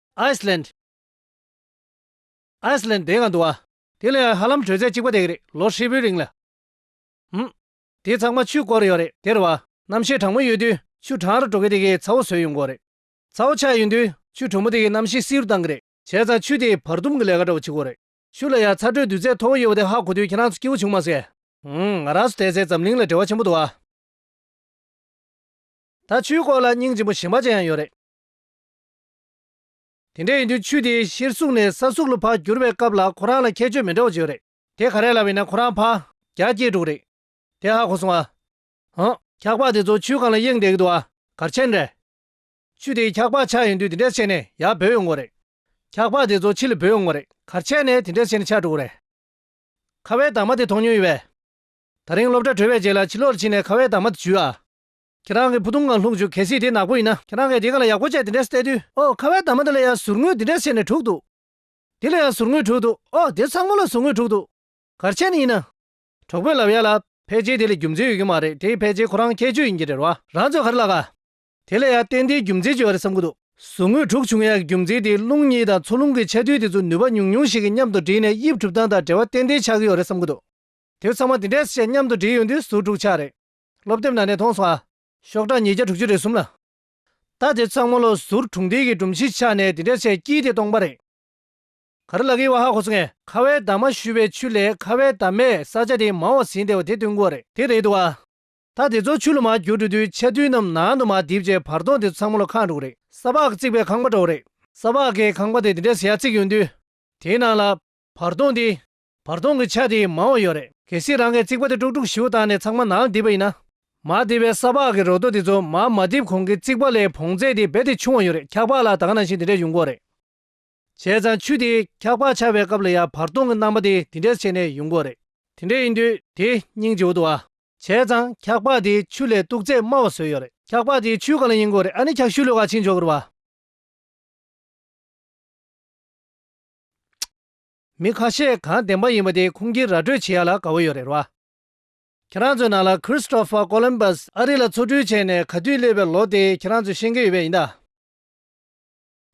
Iceland Iceland དེ་གང་འདུག་ཨ། དེ་ལས་ཧ་ལམ་དྲོད་ཚད་གཅིག་པ་དེ་གི་རེད་ལོ་ཧྲིལ་པོའི་རིང་ལ། ཧུམ། དེ་ཚང་མ་ཆུས་བསྐོར་ཡོད་རེད་དེར་བ། རྣམ་ཤེས་གྲང་མོ་ཡོད་དུས་ཆུ་གྲང་ར་འགྲོ་གི་དེ་གི་ཚ་བོ་ཟོས་ཡོང་དགོས་རེད། ཚ་བོ་ཆགས་ཡོད་དུས་ཆུ་དྲོན་མོ་དེ་གི་རྣམ་ཤེས་བསིལ་རུ་གཏང་གི་རེད། བྱས་ཙང་ཆུ་དེ་བར་སྡུམ་གི་ལས་ཀ་འདྲ་བོ་བྱེད་དགོས་རེད། ཆུ་ལ་ཡང་ཚ་དྲོད་འདུས་ཚད་མཐོ་བོ་ཡོད་པ་དེ་ཧ་གོ་དུས་ཁྱེད་རང་ཚོ་སྐྱིད་བོ་བྱུང་མ་ཟེར། ཧུམ་ང་རང་ཚོ་དེ་ཚེ་འཛམ་གླིང་ལ་བྲེལ་བ་ཆེན་པོ་འདུག་ཨ། ད་ཆུའི་སྐོར་ལ་སྙིང་རྗེ་པོ་ཞེན་པ་ཅན་ཡང་ཡོད་རེད། དེ་འདྲ་ཡིན་དུས་ཆུ་དེ་གཞིར་བཟུང་ནས་ས་ཟུག་ལུ་ཕག་འགྱུར་བའི་སྐབས་ལ་ཁོ་རང་ལ་ཁྱད་ཆོས་མི་འདྲ་བ་བྱེད་རེད། དེ་ག་རེ་ལ་བས་ན་ཁོ་རང་ཕག་རྒྱ་སྐྱེས་འདུག་རེད། དེ་ཧ་གོ་སོང་ཨ། ཧཱ། འཁྱག་ལྤགས་དེ་ཚོ་ཆུའི་ཁང་ལ་གཡེང་བསྡད་ཀྱི་འདུག་ཨ། གར་ཆེན་རེད། ཆུ་དེ་འཁྱག་ལྤགས་ཆགས་ཡིན་དུས་དེ་འདྲ་བྱས་ནས་ཡར་འབོད་ཡོང་གི་རེད། འཁྱག་ལྤགས་དེ་ཚོ་ཕྱི་ལ་འབོད་ཡོང་གི་རེད། གར་ཆེན་ནས་དེ་འདྲ་བྱས་ནས་ཆགས་འགྲོ་གི་རེད། ཁ་བའི་དྭངས་མ་དེ་མཐོང་མྱོང་ཡོད་པས། ད་རིང་སློབ་གྲྭ་གྲོལ་བའི་རྗེས་ལ་ཕྱི་ལོགས་ཕྱིན་ནས་ཁ་བའི་དྭངས་མ་དེ་བྱུས་ཨ། ཁྱེད་རང་གི་བུ་ཐུང་ངང་ལྷུང་བྱུང་གལ་སྲིད་དེ་ནག་པོ་ཡིན་ན་ཁྱེད་རང་གིས་དེ་ག་ལ་ཡག་པོ་བྱས་དེ་འདྲས་བལྟས་དུས་ཨོ་ཁ་བའི་དྭངས་མ་འདི་ལ་ཡང་ཟུར་ངོས་འདི་འདྲས་བྱས་ནས་དྲུག་འདུག། འདི་ལ་ཡང་ཟུར་ངོས་དྲུག་འདུག་ཨོ་དེ་ཚང་མ་ལ་ཟུར་ངོས་དྲུག་འདུག་གར་ཆས་ནི་ཡིན་ན། གྲོགས་པོ་ལབ་ཡ་ལ། ཕལ་ཆེར་དེ་ལ་རྒྱུ་མཚན་ཡོད་ཀྱི་མ་རེད་དེའི་ཕལ་ཆེར་ཁོ་རང་ཁྱད་ཆོས་ཡིན་གྱི་རེད་རོ། རང་ཚོད་ག་རེ་ལགས། དེ་ལ་ཡང་ཏན་ཏན་རྒྱུ་མཚན་བྱོས་བ་རེད་བསམ་གི་འདུག། ཟུར་ངོས་དྲུག་བྱུང་ཡ་གི་རྒྱུ་མཚན་དེ་རླུང་གཉིས་དང་མཚོ་རླུང་གི་ཆ་མཐུན་དེ་ཚོ་ནུས་པ་ཉུང་ཉུང་ཞིག་གིས་མཉམ་དུ་བསྒྲིལ་ནས་དབྱིབས་གྲུབ་སྟངས་དང་འབྲེལ་བ་ཏན་ཏན་ཆགས་ཀྱི་ཡོད་རེད་བསམ་གི་འདུག་དེ་ཚང་མ་དེ་འདྲས་བྱས་མཉམ་དུ་བསྒྲིལ་ཡོང་དུས་ཟུར་དྲུག་ཆགས་རེད། སློབ་དེབ་ནང་ནས་མཐོང་སོང་ཨ། ཤོག་གྲངས་ཉིས་བརྒྱ་དྲུག་ཅུ་རེ་གསུམ་ལ། ད་དེ་གཙང་མ་ལོ་ཟུར་དྲུག་འདས་ཀྱི་སྒྲོམ་གཞི་ཕྱགས་ནས་འདི་འདྲའི་ཆེ་སྐྱིད་དེ་སྟོང་པ་རེད། ག་རེ་ལ་གི་བ་ཧ་གོ་སོང་ངས། ཁ་བའི་བདག་མ་ཞུ་བའི་ཆུ་ལས་ཁ་བའི་བདག་མས་ས་ཆ་དེ་མང་བ་ཟིན་བསྡད་བ་དེ་སྟོན་གོ་རེད། དེ་རེད་འདུག་ཨ། ད་དེ་ཚོ་ཆུ་ལ་མ་བསྒྱུར་འགྲོ་དུས་ཆ་རྡུལ་རྣམས་ནང་དུ་མ་རྡིབ་རྗེས་བར་སྟོང་དེ་ཚང་མ་ལོ་ཁང་འགྲོ་གི་རེད། ས་ཕག་བརྩིགས་པའི་ཁང་པ་འགྲོ་གི་རེད། ས་ཕག་གི་ཁང་པ་དེ་འདི་འདྲའི་ཟེ་ཡ་བརྩིགས་ཡོང་དུས། དེའི་ནང་ལ། བར་སྟོང་དེ། བར་སྟོང་གི་ཆ་དེ་ཡིས་མང་བ་ཡོད་རེད། གལ་སྲིད་རང་གིས་རྩིག་པ་དེ་དཀྲུག་དཀྲུག་ཞིབ་བཏང་ནས་ཚང་མ་ནང་བསྡིབས་པ་ཡིན་ན། མར་བསྡིབས་པའི་ས་ཕག་གི་རོ་སྟོད་དེ་ཚོ་མར་མ་བསྡིབས་གོང་གི་རྩིག་པ་ལས་བོངས་ཚད་དེ་རྦད་དེ་ཆུང་བ་ཡོད་རེད་འཁྱག་ལྤགས་ལ་ད་ག་ནང་བཞིན་དེ་འདྲས་ཡོང་དགོས་རེད། བྱས་ཙང་ཆུ་དེས་འཁྱག་ལྤགས་འཕྱར་བའི་སྐབས་ལ་ཡང་བར་སྟོང་གི་རྣམ་པ་དེ་དེ་འདྲས་བྱས་ནས་ཡོང་དགོས་རེད། དེ་འདྲས་ཡིན་དུས་དེ་སྙིང་རྗེ་བོ་འདུག་ཨ། བྱས་ཙང་འཁྱག་ལྤགས་དེ་ཆུ་ལས་སྟུག་ཚད་དམའ་བ་བཟོས་ཡོད་རེད། འཁྱག་ལྤགས་དེ་ཆུའི་ག་ལ་ཡིན་དགོས་རེད་ཨ་ནི་འཁྱག་ཤུལ་ལོ་ག་ཕྱིན་ཆོག་གི་རེད་བ། མི་ཁ་ཤས་གང་བདེན་པ་ཡིན་པ་དེ་ཁུངས་སྐྱེལ་ར་སྤྲོད་བྱེད་ཡ་ལ་དགའ་བོ་ཡོད་རེད་ར། ཁྱེད་རང་ཚོའི་ནང་ལ Christopher Columbus ཨ་རི་ལ་ཆོ་འཕྲུལ་བྱས་ནས་ག་དུས་སླེབས་པའི་ལོ་དེ་ཁྱེད་རང་ཚོས་ཤེས་མཁན་ཡོད་པས་ཡིན་ད།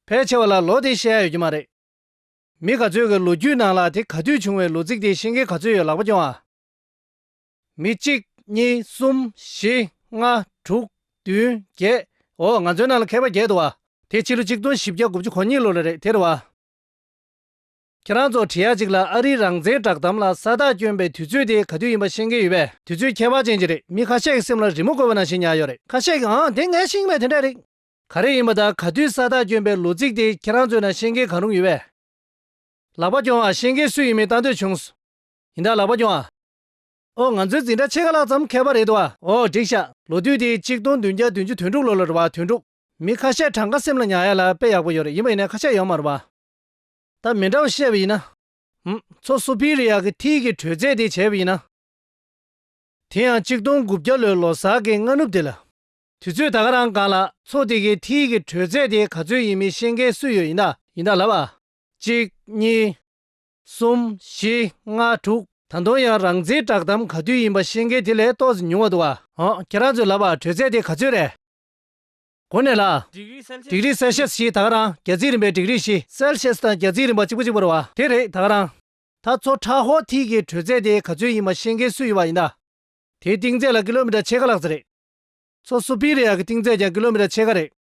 ཕལ་ཆེ་བ་ལ་ལོ་དེ་ཤེས་ཡ་ཡོད་ཀྱི་མ་རེད། མི་ག་ཚོད་ཀྱི་ལོ་རྒྱུས་ནང་ལ་དེ་ག་དུས་བྱུང་བའི་ལོ་ཚིགས་དེ་ཤེས་མཁན་ག་ཚོད་ཡོད་ལག་པ་རྐྱོང་ཨ། མི་གཅིག་གཉིས་གསུམ་བཞི་ལྔ་དྲུག་བདུན་བརྒྱད་འོ་ང་ཚོའི་ནང་ལ་མཁས་པ་བརྒྱད་འདུག་ཨ། དེ་ཕྱི་ལོ་གཅིག་སྟོང་བཞི་བརྒྱ་དགུ་བཅུ་གོ་གཉིས་ལོ་ལ་རེད་དེ་རེད་བ། ཁྱེད་རང་ཚོ་དྲི་ཡ་ཅིག་ལ་ཨ་རིའི་རང་བཙན་བསྒྲགས་གཏམ་ལ་ས་རྟགས་བསྐྱོན་པའི་དུས་ཚོད་དེ་ག་དུས་ཡིན་པ་ཤེས་མཁན་ཡོད་པས་དུས་ཚོད་ཁྱད་པར་ཅན་ཅིག་རེད་མི་ཁ་ཤས་ཀྱི་སེམས་ལ་རི་མོ་བཀོད་པ་ན་ཞིག་ཉར་ཡོད་རེད་ཁ་ཤས་ཀྱིས་ཨང་དེ་ངའི་ཤིང་མེད་དེ་འདྲ་རེད། ག་རེ་ཡིན་པ་དང་ག་དུས་ས་རྟགས་བསྐྱོན་པའི་ལོ་ཚིགས་དེ་ཁྱེད་རང་ཚོའི་ནང་ཤེས་མཁན་གང་རུང་ཡོད་པས། ལག་པ་རྐྱོང་བ་ཤེས་མཁན་སུ་ཡིན་མིན་ལྟ་འདོད་བྱུང། ཡིན་ད་ལག་པ་རྐྱོང་ཨ། ཨོ་ང་ཚོའི་འཛིན་གྲྭ་ཕྱེད་ཀ་ལྷག་ཙམ་མཁས་པ་རེད་འདུག་ཨ། ཨོ་འགྲིག་ཤག་ལོ་དུས་དེ་གཅིག་སྟོང་བདུན་བརྒྱ་བདུན་ཅུ་དོན་དྲུག་ལོ་ལོ་རེད་བ་དོན་དྲུག། མི་ཁ་ཤས་གྲངས་ཀ་སེམས་ལ་ཉར་ཡ་ལ་དཔེ་ཡག་པོ་ཡོད་རེད་ཡིན་པ་ཡིན་ནའི་ཁ་ཤས་ཡོད་མ་རུང་བ། ད་མི་འདྲ་བ་བཤད་པ་ཡིན་ན། ཧུམ། མཚོ་སུ་པི་རི་ཡ་གི་མཐིལ་གྱི་དྲོད་ཚད་དེ་བྱས་པ་ཡིན་ན། དེ་ཡང་གཅིག་སྟོང་དགུ་བརྒྱ་ལོའི་ལོ་སར་གྱི་སྔ་ནུབ་དེ་ལ། དུས་ཚོད་ད་ག་རང་གང་ལ། མཚོ་དེ་གའི་མཐིལ་གྱི་དྲོད་ཚད་དེ་ག་ཚོད་ཡིན་མིན་ཤེས་མཁན་སུ་ཡོད་ཡིན་ད། ཡིན་ད་ལབ་ཨ། གཅིག། གཉིས། གསུམ། བཞི། ལྔ། དྲུག། ད་དུང་ཡང་རང་ཚེའི་བསྒྲགས་གཏམ་ག་དུས་ཡིན་པ་ཤེས་མཁན་དེ་ལས་ཏོག་ཙེ་ཉུང་བ་འདུག་ཨ། ཨོ། ཁྱེད་རང་ཚོས་ལབ་ཨ་དྲོད་ཚད་དེ་ག་ཚོད་རེད། གོ་གནས་ལ། སྒྲིག་རིས་སེལ་ཤེས་ཞེས་དག་རང་རྒྱལ་རྩིས་རིམ་པའི་སྒྲིག་རིས་བཞི། སེལ་ཤེས་དང་རྒྱལ་རྩིས་རིམ་པ་གཅིག་པོ་གཅིག་པོར་བ། དེ་རེད་དག་རང། ད་ཚོ་ཁྲ་ཧོ་ཐིག་གི་དྲོད་ཚད་དེ་ག་ཚོད་ཡིན་མ་ཤེས་མཁན་སུ་ཡོད་པ་ཡིན་ད། དེའི་གཏིང་ཚད་ལ་ཀི་ལོ་མི་ཏྲ་ཕྱེད་ཀ་ལག་རྩེ་རེད། ཚོ་སུ་པི་རི་ཡ་གི་གཏིང་ཚད་ཀྱང་ཀི་ལོ་མི་ཏྲ་ཕྱེད་ཀ་རེད།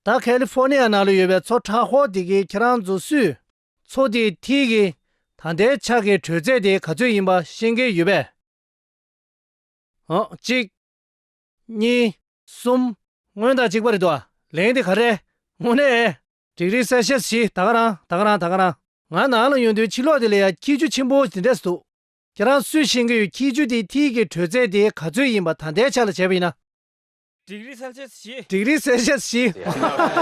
ད་ཁ་ལི་ཧྥོ་ནི་ཡ་ནང་ལ་ཡོད་པའི་ཚོ་ཁྲ་ཧོ་ཐིག་གི་ཁྱེད་རང་ཚོ་སུས། ཚོ་དེའི་ཐིག་གི་ད་ལྟའི་ཆ་གི་དྲོད་ཚད་དེ་ག་ཚོད་ཡིན་པ་ཤེས་མཁན་ཡོད་པས། ཨང། གཅིག། གཉིས། གསུམ། སྔོན་དང་གཅིག་པ་རེད་དོ། ལན་དེ་ག་རེད། དངོས་གནས། འགྲིག་རེད་གསལ་བཤད་བྱེད་ད་ག་རང་ད་ག་རང་ད་ག་རང། ང་ནང་ལ་ཡོང་དུས་ཕྱི་ལོགས་དེ་ལ་ཡང་ཁྱི་རྒྱུད་ཆེན་པོ་དེ་འདྲས་འདུག་ཁྱེད་རང་ཚོས་ཤེས་ཀྱི་ཡོད་ཁྱི་རྒྱུད་དེའི་མཐིལ་གྱི་དྲོད་ཚད་དེ་ག་ཚོད་ཡིན་པ་ད་ལྟའི་ཆ་ལ་བྱས་པ་ཡིན་ན། འགྲིག་རེད་གསལ་བཤད་བྱེད། འགྲིག་རེད་གསལ་བཤད་བྱེད། ཧ་ཧ་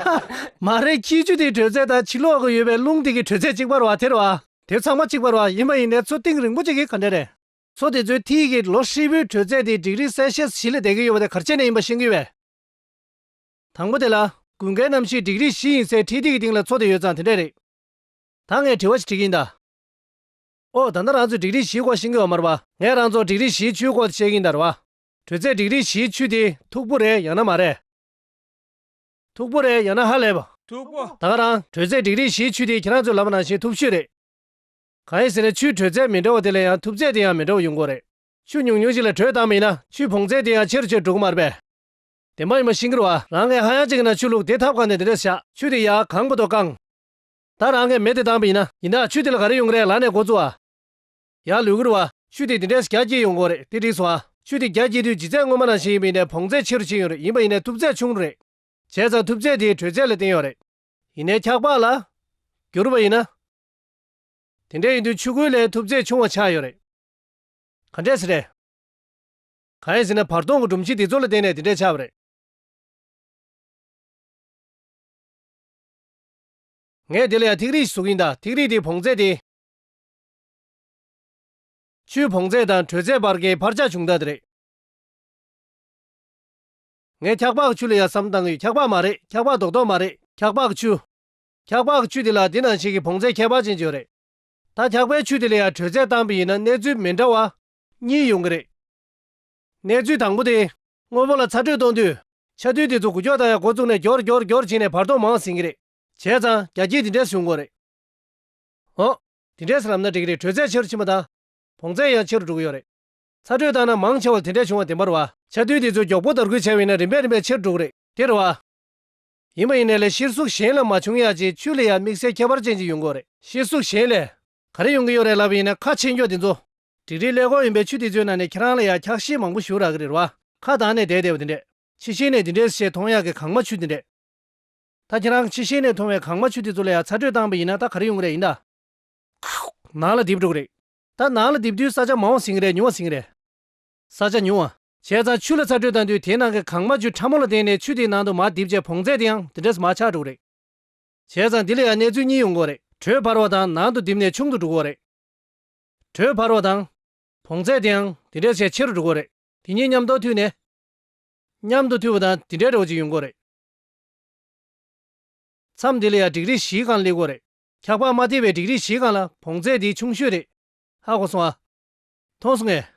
ཧ། མ་རེད་ཁྱི་རྒྱུད་དེའི་དྲོད་ཚད་དང་ཕྱི་ལོགས་ཀྱི་ཡོད་པའི་རླུང་དེ་གའི་དྲོད་ཚད་གཅིག་པ་རེད་བ་དེ་རེད་བ། དེ་ཚང་མ་གཅིག་པ་རེད་བ་ཡིན་པ་ཡིན་ནའི་ཚོ་གཏིང་རིང་པོ་གཅིག་གིས་ག་འདྲས་རེད། ཚོགས་དེ་ཚོའི་མཐིལ་གྱི་ལོ་ཧྲིལ་བོའི་དྲོད་ཚད་དེ་འགྲིག་རིགས་གསལ་བཤད་བྱེད་ལས་བསྡད་ཀྱི་ཡོད་པ་དེ་གར་བྱས་ནས་ཡིན་པ་ཤེས་ཀྱི་ཡོད། དང་པོ་དེ་ལ་དགུན་ཁའི་གནམ་གཤིས་འགྲིག་རིགས་བཞི་ཡིན་སའི་འཕྲེད་ཐིག་གི་སྟེང་ལ་ཚོགས་དེ་ཡོད་ཙང་དེ་འདྲས་རེད། ད་ངས་དྲི་བ་ཞིག་དྲིས་ཀྱིན་གདའ། ཨོ་ད་ལྟ་རང་ཚོས་འགྲིག་རིགས་བཞིའི་སྐོར་ཤེས་ཀྱི་ཡོད་མ་རེད་པ། ངས་རང་ཚོར་འགྲིག་རིགས་བཞིའི་ཆུའི་སྐོར་དེ་བཤད་ཀྱིན་གདའ་རེད་པ། དྲོད་ཚད་འགྲིག་རིགས་བཞིའི་ཆུ་དེ་མཐུག་པོ་རེད་ཡང་ན་མ་རེད། མཐུག་པོ་རེད་ཡང་ན་ཧ་ལས་པ། མཐུག་པོ། ད་ང་རང་དྲོད་ཚད་འགྲིག་རིགས་བཞིའི་ཆུ་དེ་ཁྱེད་རང་ཚོའི་ལམ་ནང་བཞིན་མཐུག་ཆུ་རེད། གང་ཡིན་ཟེར་ན་ཆུའི་དྲོད་ཚད་མི་འདྲ་བ་དེ་ལ་ཡང་ཐུབ་ཚད་དེ་ཡང་མི་འདྲ་བ་ཡོང་གི་རེད། ཆུ་ཉུང་ཉུང་ཞིག་ལ་དྲོད་དྭངས་མི་ཡིན་ན་ཆུའི་བོངས་ཚད་དེ་ཡང་ཆེ་རུ་ཆེ་རུ་འགྲོ་གི་མ་རེད་པས། དེ་མ་ཡིན་པར་ཤིང་འགྱུར་བ་རང་གི་ཧ་ཡང་ཅིག་ཡིན་ན་ཆུ་བླུགས་དེ་ཐབ་གང་ནས་དེ་འདྲས་སུ་བཞག་ཆུ་དེ་ཡར་གང་དགོས་དོ་བཀང། ད་རང་གི་མེ་དེ་དྭངས་པ་ཡིན་ན་ཡིན་ན་ཆུ་དེ་ལ་ག་རེ་ཡོང་གི་རེད་ལག་ནས་འགོ་བཙུགས་ཨ། ཡར་ལུས་འགྱུར་བ་ཆུ་དེ་དེ་འདྲས་སུ་རྒྱ་བསྐྱེད་ཡོང་གི་རེད་དེ་འགྲིགས་སོང་ཨ། ཆུ་དེ་རྒྱ་བསྐྱེད་དུས་ལྗིད་ཚད་སྔོན་མ་ནང་བཞིན་ཡིན་པ་ཡིན་ན་བོངས་ཚད་ཆེ་རུ་ཕྱིན་ཡོང་རེད་ཡིན་པ་ཡིན་ན་ཐུབ་ཚད་ཆུང་རུ་རེད། བྱས་ཙང་ཐུབ་ཚད་དེའི་དྲོད་ཚད་ལ་བརྟེན་ཡོང་རེད། ཡིན་ནའི་འཁྱགས་པགས་ལ་འགྱུར་བ་ཡིན་ན། དེ་འདྲས་ཡིན་དུས་ཆུ་ཁོལ་ལས་ཐུབ་ཚད་ཆུང་བ་ཆགས་ཡོད་རེད། ག་འདྲས་སུ་རེད། གང་ཡིན་ཟེར་ན་བར་སྟོང་གི་སྒྲོམ་གཞི་དེ་ཚོ་ལ་བརྟེན་ནས་དེ་འདྲས་ཆགས་པ་རེད། ངས་དེ་ལ་ཡང་ཐིག་རིས་ཞེས་གཟུགས་ཀྱིན་གདའ་ཐིག་རིས་དེའི་བོངས་ཚད་དེ། ཆུའི་བོངས་ཚད་དང་དྲོད་ཚད་བར་གྱི་འཕར་ཆག་ཆུང་དག་དེ་རེད། ངས་འཁྱག་འབག་ཆུ་ལ་ཡང་བསམ་བཏང་གི་ཡོད་འཁྱག་འབག་མ་རེད་འཁྱག་འབག་རྡོག་རྡོག་མ་རེད་འཁྱག་འབག་ཆུ། འཁྱགས་པགས་ཆུ་དེ་ལ་དེ་ནང་བཞིན་གྱི་བོངས་ཚད་ཁྱད་པར་ཅན་བྱུང་རེད། ད་འཁྱགས་པའི་ཆུ་དེ་ལ་ཡང་དྲོད་ཚད་བཏང་པས་ཡིན་ན་གནས་ཚུལ་མི་འདྲ་བ། གཉིས་ཡོང་གི་རེད། གནས་ཚུལ་དང་པོ་དེ། དངོས་པོ་ལ་ཚ་དྲོད་གཏོང་དུས། ཆ་རྡུལ་དེ་ཚོ་གུ་ཀྱོག་དང་ཡང་གོ་བཙུགས་ནས་གྱོར་གྱོར་གྱོར་བྱས་ནས་བར་སྟོང་མང་ཟིན་གྱི་རེད། བྱས་ཙང་རྒྱ་སྐྱེགས་དེ་འདྲས་བྱུང་དགོས་རེད། འོ། དེ་འདྲས་ལབ་ན་འགྲིག་གི་རེད་དྲོད་ཚད་ཆེ་རུ་ཕྱིན་པ་དང། བོངས་ཚད་ཡང་ཆེ་རུ་འགྲོ་གི་ཡོད་རེད། ཚ་དྲོད་བཏང་ན་མང་ཆེ་བ་ལ་དེ་འདྲས་བྱུང་བ་དེ་འབར་བ། ཆ་རྡུལ་དེ་ཚོ་མགྱོགས་པོ་དར་རྒུད་བྱས་པས་ཡིན་ན་རིམ་པས་རིམ་པས་ཆེ་རུ་འགྲོ་གི་རེད། དེར་བ། ཡིན་པ་ཡིན་ནས་ལས་ཤེར་གཟུགས་གཞན་ལ་མ་བྱུང་ཡ་ཅེས་ཆུ་ལས་ཡང་དམིགས་བསལ་ཁྱད་པར་ཅན་ཅིག་ཡོང་གོ་རེད། ཤེར་གཟུགས་གཞན་ལས། ག་རེ་ཡོང་གི་ཡོད་རེད་ལབ་པ་ཡིན་ན་ཁ་ཕྱེས་མགྱོགས་དེ་ཚོ། བྲིས་རིས་ཀླད་ཀོར་ཡིན་པའི་ཆུ་དེ་ཚོའི་ནང་ནས་ཁྱེད་རང་ལ་ཡང་འཁྱགས་ཤིང་མང་པོ་བཞུར་རག་གི་རེད་བ། ཁ་གདངས་ནས་བསྡད་བསྡད་བ་དེ་འདྲས། ཕྱི་ཤེས་ནས་དེ་འདྲས་སུ་ཤེས་མཐོང་ཡག་གི་གངས་མ་ཆུ་དེ་འདྲས། ད་ཁྱེད་རང་ཕྱི་ཤེས་ནས་མཐོང་བའི་གངས་མ་ཆུ་དེ་ཚོ་ལ་ཡང་ཚ་དྲོད་བཏང་པ་ཡིན་ན་ད་ག་རེ་ཡོང་གི་རེད་ཡིན་ད། ཁུག། ནང་ལ་རྡིབ་འགྲོ་གི་རེད། ད་ནང་ལ་རྡིབ་དུས་ས་ཆ་མང་བ་ཟིན་གི་རེད་ཉུང་བ་ཟིན་གི་རེད། ས་ཆ་ཉུང་བ། བྱས་ཙང་ཆུ་ལ་ཚ་དྲོད་བཏང་དུས་དེའི་ནང་གི་གངས་མ་ཆུ་ཕྲ་མོ་ལ་བརྟེན་ནས་ཆུ་དེའི་ནང་དུ་མར་ལྡིབ་རྗེས་བོངས་ཚད་དེའང་དེ་འདྲས་མར་ཆག་འགྲོ་གི་རེད། བྱས་ཙང་དེ་ལ་ཡང་གནས་ཚུལ་གཉིས་ཡོང་གི་རེད་དྲོད་འཕར་བ་དང་ནང་དུ་ལྡིབ་ནས་ཆུང་དུ་འགྲོ་གི་རེད། དྲོད་འཕར་བ་དང། བོངས་ཚད་དེའང་དེ་འདྲས་ཆེས་ཆེ་རུ་འགྲོ་གི་རེད། དེ་གཉིས་མཉམ་དུ་མཐུད་ནས། མཉམ་དུ་མཐུད་པ་དང་དེ་འདྲས་འདྲ་བོ་ཅིག་ཡོང་གི་རེད། མཚམས་དེ་ལ་ཡང་འགྲིག་རིགས་བཞིའི་སྒང་སླེབས་གི་རེད། འཁྱག་པགས་མ་ཐེབས་པའི་འགྲིག་རིགས་བཞིའི་སྒང་ལ་བོངས་ཚད་དེའི་ཆུང་ཤོས་རེད། ཧ་གོ་སོང་ཨ། མཐོང་སོང་ངས།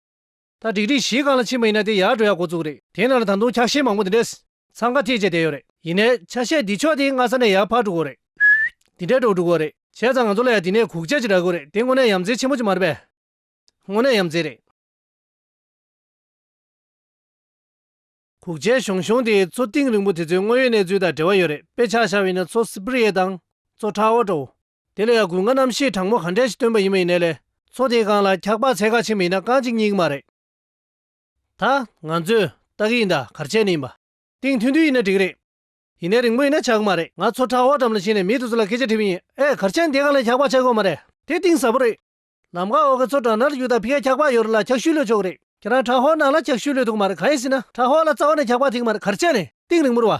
ད་སྒྲིག་སྒྲིག་གཞིའི་སྒང་ལ་ཕྱིན་པ་ཡིན་ན་དེ་ཡར་འགྲོ་ཡག་འགོ་བཙུགས་རེད། དེ་ནང་ལ་ད་དུང་ཆ་ཤས་མང་པོ་འདི་འདྲས། འཚང་ཁ་ཐེག་བཅས་བསྡད་ཡོད་རེད། ཡིན་ནའི་ཆ་ཤས་འདི་ཕྱོགས་དེའི་སྔ་ས་ནས་ཡར་འཕར་འགྲོ་དགོས་རེད། ཧུད། འདི་འདྲས་འགྲོ་འགྲོ་དགོས་རེད། བྱས་ཙང་ང་ཚོ་ལ་ཡང་དེ་ནས་གུག་ཆ་ཅིག་རག་དགོས་རེད་དེ་དངོས་གནས་ཡམ་རྩེ་ཆེན་མོ་ཅིག་མ་རེད་པས། དངོས་གནས་ཡམ་རྩེ་རེད། གུག་ཆའི་གཞུང་གཞུང་དེའི་མཚོ་གཏིང་རིང་པོ་དེ་ཚོའི་དངོས་ཡོད་གནས་ཚུལ་དང་འབྲེལ་བ་ཡོད་རེད་དཔེ་ཆ་ཆ་བས་ན་མཚོ་སི་པི་རི་ཡའི་དང། མཚོ་ཁྲའོ་ཀྲོའུ། དེ་ལ་ཡང་དགུན་ང་རྣམ་ཤེས་དྲང་མོ་ག་འདྲས་ཤིག་སྟོན་པ་ཡིན་མ་ཡིན་ནས་ལས། མཚོ་དེའི་སྒང་ལ་འཁྱག་པགས་ཚལ་ཁ་ཆེ་མི་ཡིན་ན་རྐང་གཅིག་གཉིས་ཀྱི་མ་རེད། ད། ང་ཚོས། སྟག་གི་ཡིན་ད་གར་ཆད་ནི་ཡིན་པ། སྟེང་ཐུན་ཐུན་ཡིན་ན་འགྲིག་གི་རེད། ཡིན་ནའི་རིང་མོ་ཡིན་ན་ཆག་གི་མ་རེད། ང་ཚོ་ཁྲ་བོ་འགྲམ་ལ་ཕྱིན་ནས་མི་དེ་ཚོ་ལ་སྐད་ཆ་དྲིས་པ་ཡིན། ཨེ། གར་ཆད་ནི་དེའི་སྒང་ལ་འཁྱག་པགས་ཆག་གི་འོག་མ་རེད། དེ་གཏིང་ཟབ་པོ་རེད། ལམ་ཁ་འོག་གི་མཚོ་བྲག་ནགས་ལ་རྒྱུག་སྟངས་ཕི་ཁའི་འཁྱག་པགས་ཡོད་རེད་ལ་འཁྱག་ཤུད་གློད་ཆོག་གི་རེད། ཁྱེད་རང་ཁྲ་ཧོར་ནགས་ལ་འཁྱག་ཤུད་གློད་ཐུག་གི་མ་རེད་གང་ཡིན་ཟེར་ན་ཁྲ་ཧོར་ལ་རྩ་བ་ནས་འཁྱག་པགས་ཐིག་གི་མ་རེད་གར་ཆད་ནི་སྟེང་རིང་མོར་བ།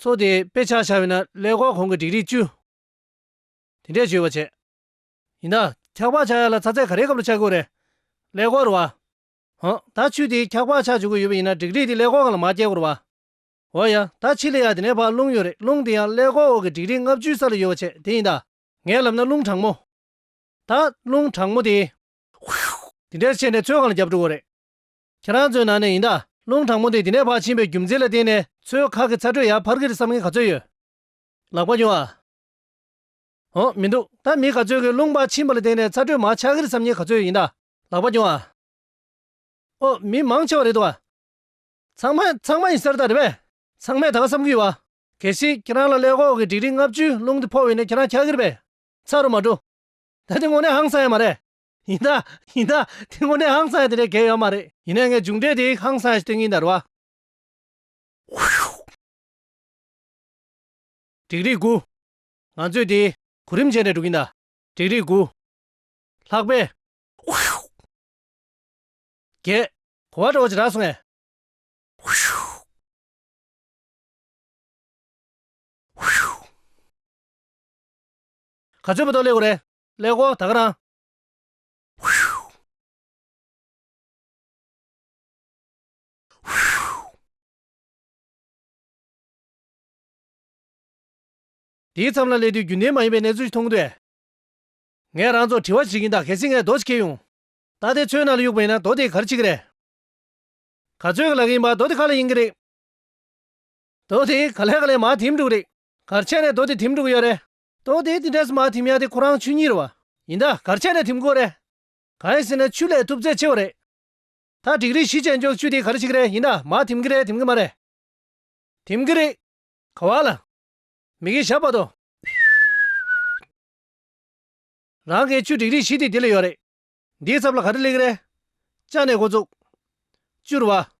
ཚོགས་དེའི་དཔེ་ཆ་བྱ་བས་ན་ཀླད་ཀོར་གོང་གི་སྒྲིག་རིས་བཅུ། དེ་འདྲས་བཅོས་པར་བྱས། ཡིན་ན། འཁྱག་པགས་ཆགས་ཡ་ལ་ཚ་ཚད་ག་རེའི་སྐབས་ལ་ཆགས་དགོས་རེད། ཀླད་ཀོར་བ། ཧོ། ད་ཆུ་དེའི་འཁྱག་པགས་ཆགས་བཅུག་གི་ཡོད་པ་ཡིན་ན་སྒྲིག་རིས་དེ་ཀླད་ཀོར་གང་ལ་མ་སྐྱེལ་དགོས་རེད་བ། འོ་ཡ། ད་ཕྱི་ལེ་ཡག་དེ་ནས་བར་རླུང་ཡོད་རེད་རླུང་དེ་ཡང་ཀླད་ཀོར་འོག་གི་སྒྲིག་རིས་ལྔ་བཅུའི་ས་ལ་ཡོད་བ་བྱས་དེ་ཡིན་ད། ངས་ལབ་ན་རླུང་གྲང་མོ། ད། རླུང་གྲང་མོ་དེ། དེ་འདྲས་བྱས་ནས་ཚོད་གང་ལ་རྒྱབ་འགྲོ་དགོས་རེད། ཁྱེད་རང་ཚོའི་ནང་ནས་ཡིན་ད། རླུང་དྲང་མོ་དེ་དེ་ནས་བར་ཕྱིན་པའི་རྒྱུ་མཚན་ལ་བརྟེན་ནས་ཚོའི་ཁག་གི་ཚ་དྲོད་ཡར་འཕར་གི་རེད་བསམ་མཁན་ག་ཚོད་ཡོད། ལག་པ་ཉོ་ཨ། འོ། མི་འདུག་ད་མི་ག་ཚོད་ཀྱིས་རླུང་བར་ཕྱིན་པ་ལ་བརྟེན་ནས་ཚ་དྲོད་མར་ཆག་གི་རེད་བསམ་མཁན་ག་ཚོད་ཡིན་ད། ལག་པ་ཉོ་ཨ། འོ། མི་མང་ཆེ་བ་རེད་འདུག་ཨ། ཚང་མ། ཚང་མ་ཡིན་ས་རེད་ད་རེད་བས། ཚང་མས་ད་ག་བསམ་གི་ཡོད་བ། གལ་སྲིད་ཁྱེད་རང་ལ་ཀླད་ཀོག་གི་འགྲིག་འགྲིག་ལྔ་བཅུའི་རླུང་དེ་ཕོག་འོས་ནས་ཁྱེད་རང་ཆག་གི་རེད་བས། ཚ་རུ་མ་འགྲོ། ད་དེ་ངོ་ནས་ཧང་སང་ཡ་མ་རེད། ཡིན་ན་ཡིན་ན་དེ་ངོ་ནས་ཧང་སངས་དེ་འདྲའི་འགལ་ཡོད་མ་རེད། ཡིན་ན་ངས་མཇུག་འབྲས་དེ་ཧང་སངས་ཞིག་སྟོན་གྱི་འདར་བ། འགྲིག་རིགས་དགུ། ང་ཚོས་དེ་གོ་རིམ་བྱས་ནས་འགྲོ་གི་འདར་འགྲིག་རིགས་དགུ། ལྷག་པའི། རྒྱལ། གོ་བ་འདྲ་བོ་ཅིག་རག་སོང་ངས། ག་ཚོད་པ་ཏོག་ལེགས་གོ་རེད། ཀླད་ཀོར་དག་རང། དེའི་མཚམས་ལ་སླེབས་དུས་རྒྱུན་ལྡན་མ་ཡིན་པའི་གནས་ཚུལ་ཞིག་མཐོང་གི་འདུག་ཨེ། ངས་རང་ཚོར་དྲི་བ་བྱེད་ཀྱིན་གདའ་གལ་སྲིད་ངས་རྡོ་ཞིག་ཁྱེར་ཡོང། ད་དེ་ཚོའི་ནང་ལ་གཡུག་པ་ཡིན་ན་རྡོ་དེའི་གར་ཆིག་གི་རེད། ག་ཚོད་ཀྱི་ལག་ཡིན་པ་རྡོ་དེ་ག་ལ་ཡིན་གི་རེད། རྡོ་དེ་ག་ལས་ག་ལས་མ་དེམ་འགྲོ་གི་རེད། གར་ཆད་ནས་རྡོ་དེ་དེམ་འགྲོ་གི་ཡོད་རེད། ཏོ། དེ་དེ་འདྲ་ཟེར་མ་ཐིམ་ཡང་དེ་ཁོ་རང་ཆུ་གཉིས་རེད་བ། ཡིན་ད་གར་ཆད་ནས་ཐིམ་དགོས་རེད། གང་ཡིན་ཟེར་ན་ཆུ་ལས་ཐུབ་ཚད་ཆེ་བ་རེད། ད་འགྲིག་རིགས་བཞི་ཅན་མཆོག་ཆུ་དེ་ག་རེ་ཞིག་རེད་ཡིན་ད་མ་ཐིམ་གི་རེད་ཐིམ་གི་མ་རེད། ཐིམ་གི་རེད། ག་བ་ལ། མི་གི་ཞབས་པ་དོ། རང་གི་ཆུ་འགྲིག་རིགས་བཞི་དེ་དེ་ལ་ཡོད་རེད། འདིའི་ཚབ་ལ་ག་རེ་ལེགས་རེད། ལྕགས་ནས་འགོ་བཙུགས། བཅུར་བ།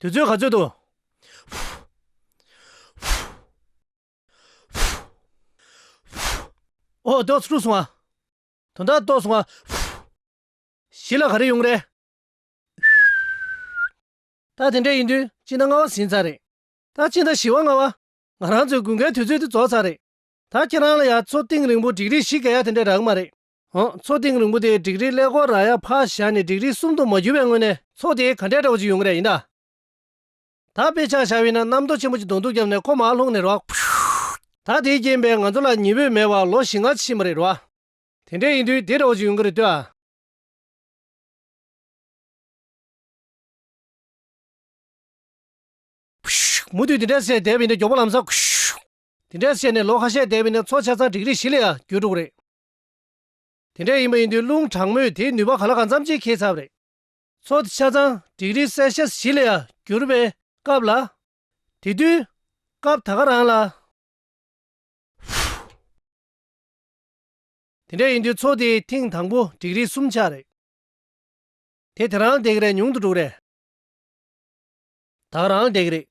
དུས་ཚོད་ག་ཚོད་དུ། འོ་དོགས་ཚུར་སོང་བ། དོན་དག་རྟོགས་སོང་བ། གཞི་ལ་ག་རེ་ཡོང་རེད། ད་དེ་འདྲ་ཡིན་དུས་གཅིག་ན་ལྔ་བ་ཟིན་ཚར་རེད། ད་གཅིག་ན་བཞི་བ་ལྔ་བ། ང་རང་ཚོའི་དགུན་ཁའི་དུས་ཚོད་དེ་རྫོགས་ཚར་རེད། ད་ཁྱེད་རང་ལ་ཡང་ཚོ་གཏིང་རིང་པོ་འགྲིག་རིགས་ཤིག་ག་ཡ་དེ་འདྲ་རག་མ་རེད། འོང། ཚོགས་ཐེངས་རིང་པོ་དེའི་སྒྲིག་རིས་ཀླད་ཀོར་ར་ཡར་ཕར་བཞག་ནས་སྒྲིག་རིས་གསུམ་དུ་མ་གྱུར་བའི་སྔོན་ནས། ཚོགས་དེའི་ག་འདྲའི་དགྲ་བོ་ཅིག་ཡོང་གི་རེད་ཡིན་ན། ད་དཔེ་ཆ་བཞག་འི་ན་གནམ་རྡོ་ཆེན་པོ་ཅིག་གདོང་ཐུག་བརྒྱབ་ནས་ཁོ་མར་ལྷུང་ནི་རེད་བ། ད་དེའི་རྐྱེན་པས་ང་ཚོ་ལ་ཉི་འོད་མེད་པར་ལོ་བཞི་ལྔ་ཕྱིན་པ་རེད་བ། དེ་འདྲ་ཡིན་དུས་དེ་འདྲ་བོ་ཅིག་ཡོང་གི་རེད་ལྟོས་ཨ། མུ་མཐུད་དེ་འདྲ་བྱས་བསྡད་པ་ཡིན་ན་མགྱོགས་པོ་ལམ་སང། དེ་འདྲ་བྱས་ནས་ལོ་ཁ་ཤས་བསྡད་པ་ཡིན་ན་ཚོགས་ཆ་ཚང་སྒྲིག་རིས་བཞི་ལ་ཡང་བསྒྱུར་འགྲོ་གི་རེད། དེ་འདྲ་ཡིན་པ་ཡིན་དུས་རླུང་དྲག་མོས་དེའི་ནུས་པ་ག་ལ་གང་འཚམ་ཅིག་ཁེལ་ཚར་བ་རེད། མཚོ་དེ་ཆ་ཚང་དིག་རིས་སའི་ཤ་བཞི་ལ་ཡང་གྱུར་པའི་སྐབས་ལ། དེ་དུས། སྐབས་ད་ག་རང་ལ། དེ་འདྲ་ཡིན་དུས་མཚོ་དེའི་མཐིང་དང་པོ་དིག་རིས་གསུམ་ཆ་རེད། དེ་དེ་རང་འདེགས་རེད་ཉུང་དུ་འགྲོ་རེད། ད་ག་རང་འདེགས་རེད།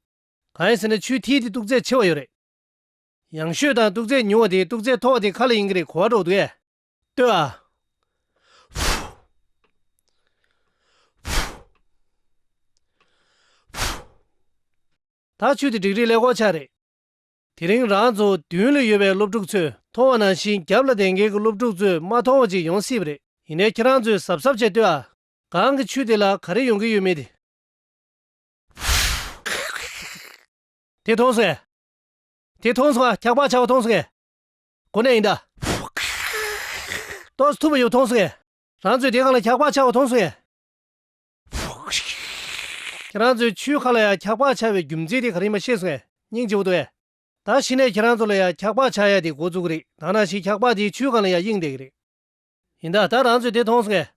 གང་ཡིན་ཟེར་ན་ཆུའི་མཐིལ་དེ་སྟུག་ཚད་ཆེ་བ་ཡོད་རེད། ཡང་ཤོད་དང་སྟུག་ཚད་ཉུང་བ་དེའི་སྟུག་ཚད་མཐོ་བ་དེ་ག་ལ་ཡིན་གྱི་རེད་གོ་བ་སྒྲོག་འདུག་ཨེ། ལྟོས་ཨ། ད་ཆུ་དེ་འགྲིག་རིགས་ལས་གོ་ཆ་རེད། དེ་རིང་རང་ཚོ་མདུན་ལ་ཡོད་པའི་སློབ་ཕྲུག་ཚོས་མཐོང་བ་ནང་བཞིན་རྒྱབ་ལ་དེང་གི་གི་སློབ་ཕྲུག་ཚོས་མ་མཐོང་བ་ཅིག་ཡོང་སྲིད་པ་རེད་ཡིན་ནའི་ཁྱེད་རང་ཚོས་གཟབ་གཟབ་བྱས་ལྟོས་ཨ། གང་གི་ཆུ་དེ་ལ་ག་རེ་ཡོང་གི་ཡོད་མེད་དེ། དེ་མཐོང་སོང་ཨེ། དེ་མཐོང་སོང་ཨ་འཁྱག་པགས་ཆགས་པ་མཐོང་སོང་ཨེ། གོ་ནས་ཡིན་ད། ཏོག་ཐུབ་པ་ཡོད་མཐོང་སོང་ཨེ། རང་ཚོའི་སྡེ་ཁག་ལ་འཁྱག་པགས་ཆགས་པ་མཐོང་སོང་ཨེ། ཁྱེད་རང་ཚོའི་ཆུའི་ཁ་ལ་ཡང་འཁྱག་པགས་ཆགས་པའི་རྒྱུ་མཚན་དེ་ག་རེད་མ་ཤེས་སོང་ཨེ་སྙིང་རྗེ་བོ་འདུག་ཨེ། ད་ཕྱི་ནས་ཁྱེད་རང་ཚོ་ལ་ཡང་འཁྱག་པགས་ཆགས་ཡ་དེ་འགོ་བཙུགས་གི་རེད་ད་ནང་བཞིན་འཁྱག་པགས་དེ་ཆུའི་ཁ་ལ་ཡང་གཡེང་བསྡད་གི་རེད། ཡིན་ད་ད་རང་ཚོའི་སྡེ་མཐོང་སོང་ཨེ།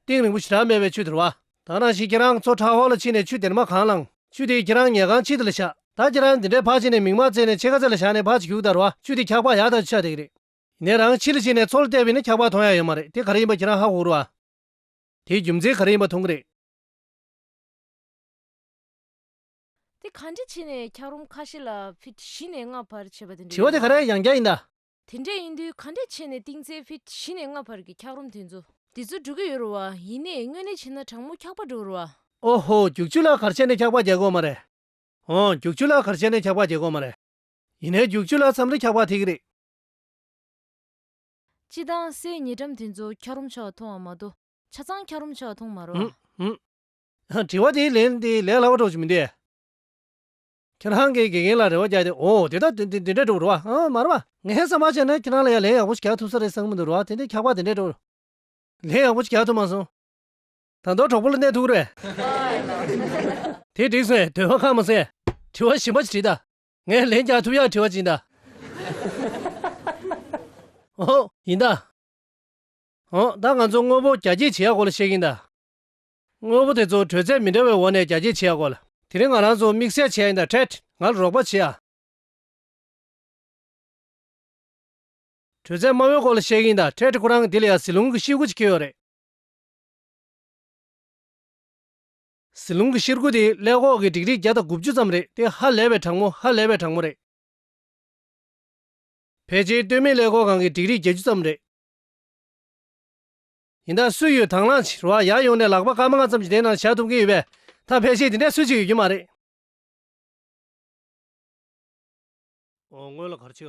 ཏིང་རིང་པོ་ཞེ་དྲག་མེད་པའི་ཆུ་དེར་བ། དག་ནང་བཞིན་ཁྱེད་རང་ཚོ་ཁྲག་ཧོར་ལ་ཕྱིན་ནས་ཆུ་དེར་མ་གང་བླངས། ཆུ་དེས་ཁྱེད་རང་ཉལ་ཁང་ཕྱི་དེ་ལ་བཞག། ད་ཁྱེད་རང་འདི་འདྲའི་ཕག་ཕྱི་ནས་མིག་མ་བཙིར་ནས་ཕྱི་ཁ་རྩེ་ལ་བཞག་ནས་ཕག་ཅིག་ཞུགས་དར་བ་ཆུ་དེ་འཁྱག་ཕག་ཡག་དག་ཆུ་ཆག་དེ་གི་རེད། ངས་རང་ཕྱི་ལ་ཕྱིན་ནས་མཚོ་ལ་བལྟས་པས་ནི་འཁྱག་ཕག་མཐོང་ཡ་ཡོད་མ་རེད་དེ་ག་རེ་ཡིན་པ་ཁྱེད་རང་ཧ་གོ་རུ་ཨ། དེའི་རྒྱུ་མཚན་ག་རེ་ཡིན་པ་མཐོང་གི་རེད། དེ་གང་འདྲས་བྱས་ནས་འཁྱག་རོམ་ཁ་ཤས་ལ་ཕི་བཞི་ནས་ལྔ་བར་བྱས་པ་དེ་འདྲས་དྲི་བ་རེད་དེ་ག་བ། རེ་ཡང་བརྒྱ་ཡིན་ད། དེ་འདྲས་ཡིན་དུས་ག་འདྲས་ཕྱེ་ནས་ཏིང་ཙེའི་ཕིད་བཞི་ནས་ལྔ་བར་གྱི་འཁྱགས་རོམ་དེ་ཚོ། དེ་ཚོ་འགྲོ་གི་ཡོད་རོ་བ་ཡིན་ནས་དངོས་གནས་ཕྱེ་ན་དྲང་མོ་འཁྱགས་པ་འགྲོ་རོ་བ། ཨོ་ཧོ་རྒྱུག་ཆུ་ལག་གར་ཕྱེ་ནས་འཁྱགས་པ་རྒྱག་དགོས་མ་རེད། ཨོ་རྒྱུག་ཆུ་ལག་གར་ཕྱེ་ནས་འཁྱགས་པ་རྒྱག་དགོས་མ་རེད། ཡིན་ནའི་རྒྱུག་ཆུ་ལག་མཚམས་རེ་འཁྱགས་པ་ཐིག་རེད། སྤྱི་དང་སའི་ཉེ་འགྲམ་དེ་ཚོ་འཁྱགས་རོམ་ཆགས་མཐོང་བ་མ་གཏོགས་ཆ་ཚང་འཁྱགས་རོམ་ཆགས་མཐོང་མ་རོ་བ། ཨུ་ཨུ། དྲི་བ་དེའི་ལན་དེ་ལས་སླ་བ་གྲོགས་ཅིག་མི་འདུག་ཨེ། ཁྱེད་རང་གིས་དགེ་རྒན་ལ་རེ་བ་རྒྱག་སྟེ་འོ་དེ་ལྟར་དེ་འདྲས་འགྲོ་བར་རོ་བ་ཨང་མ་རེད་པ། ངས་བསམ་པར་བྱས་ན་ཁྱེད་རང་ལ་ཡང་ལན་ཡག་པོ་ཞིག་རྒྱག་ཐུབ་ས་རེད་བསམ་གྱི་འདུག་རོ་བ་དེ་འདྲས་འཁྱག་པ་དེ་འདྲས་འགྲོ། ལན་ཡག་པོ་ཞིག་རྒྱག་ཐུབ་མ་སོང། ད་མདོ་གྲོགས་པོ་ལ་གནས་ཐུག་རེད། དེ་འགྲིག་སོང་བས་དོན་ཧ་ཁག་མི་སེ། དྲི་བ་ཞིམ་པ་ཞིག་དྲིས་ད། ངས་ལན་རྒྱག་ཐུབ་ཡག་དྲི་བ་ཅིག་ཡིན་ད། འོ་ཡིན་ད། འོ་ད་ང་ཚོ་དངོས་པོ་རྒྱ་སྐྱེད་བྱེད་ཡག་སྐོར་ལ་བཤད་གིན་ད། དངོས་པོ་དེ་ཚོ་དྲོད་ཚད་མི་འདྲ་བའི་འོག་ནས་རྒྱ་སྐྱེད་བྱེད་དགོས་ལ། དེ་རིང་ང་རང་ཚོ་དམིགས་བསལ་བྱས་ཡིན་ད་ཕྲད་ང་ལ་རོགས་པ་བྱེད་ཨ། དྲོད་ཚད་དམའ་བའི་སྐོར་ལ་བཤད་གི་ཡིན་ད་ཕྲད་ཁོ་རང་གི་དེ་ལ་ཡང་ཟི་ལུང་གི་གཤེར་ཁུ་ཅིག་ཁེལ་ཡོད་རེད། ཟི་ལུང་གི་གཤེར་ཁུ་དེ་ཀླད་ཁོག་གི་འབྲིག་རིས་བརྒྱ་དང་དགུ་བཅུ་ཙམ་རེད་དེ་ཧ་ལས་པའི་གྲང་མོ་ཧ་ལས་པའི་གྲང་མོ་རེད། ཕལ་ཆེའི་སྟོད་སྨད་ཀླད་ཁོག་གང་གི་འབྲིག་རིས་བརྒྱད་ཅུ་ཙམ་རེད། ཡིན་ད་སུས་ཡོད་དྭངས་བླངས་ཕྱིར་བ་ཡར་ཡོང་ནས་ལག་པ་སྐར་མ་ལྔ་ཙམ་གྱི་སྟེང་ན་བཞག་ཐུབ་མཁན་ཡོད་པས་ད་ཕལ་ཆེར་དེ་འདྲའི་སུས་ཅིག་ཡོད་རྒྱུ་མ་རེད།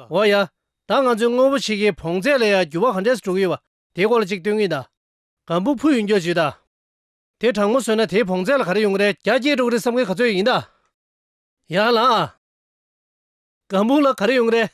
འོ་ཡ། ད་ང་ཚོས་དངོས་པོ་ཕྱེད་ཀའི་བོངས་ཚད་ལས་ཡར་འགྱུར་བ་ག་འདྲས་སུ་འགྲོ་གི་ཡོད་པ་དེའི་སྐོར་ལ་ཅིག་སྟོན་གི་ཡིན་ད། གང་བུ་ཕུ་ཡོད་འགྱོ་བྱེད་ད། དེ་དྲང་མོ་བཟོས་ན་དེའི་བོངས་ཚད་ལ་ག་རེ་ཡོང་གི་རེད་རྒྱ་སྐྱེད་འགྲོ་གི་རེད་བསམ་མཁན་ག་ཚོད་ཡོད་ཡིན་ད། ཡ་ལ། གང་བུ་ལ་ག་རེ་ཡོང་གི་རེད།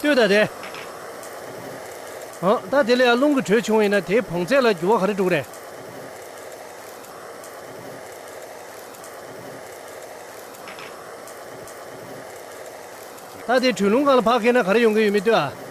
ལྟོས་དང། རེད་འོང། ད་དེ་ལས་ཡར་རླུང་གི་དྲོད་ཆུང་བ་ཡིན་ན་དེའི་བོངས་ཚད་ལ་འགྱུར་བ་ག་རེ་འགྲོ་གི་རེད། ད་དེ་དྲོད་རླུང་གང་ལ་བག་མཁས་ན་ག་རེ་ཡོང་གི་ཡོད་མེད་ལྟོས་ཨ།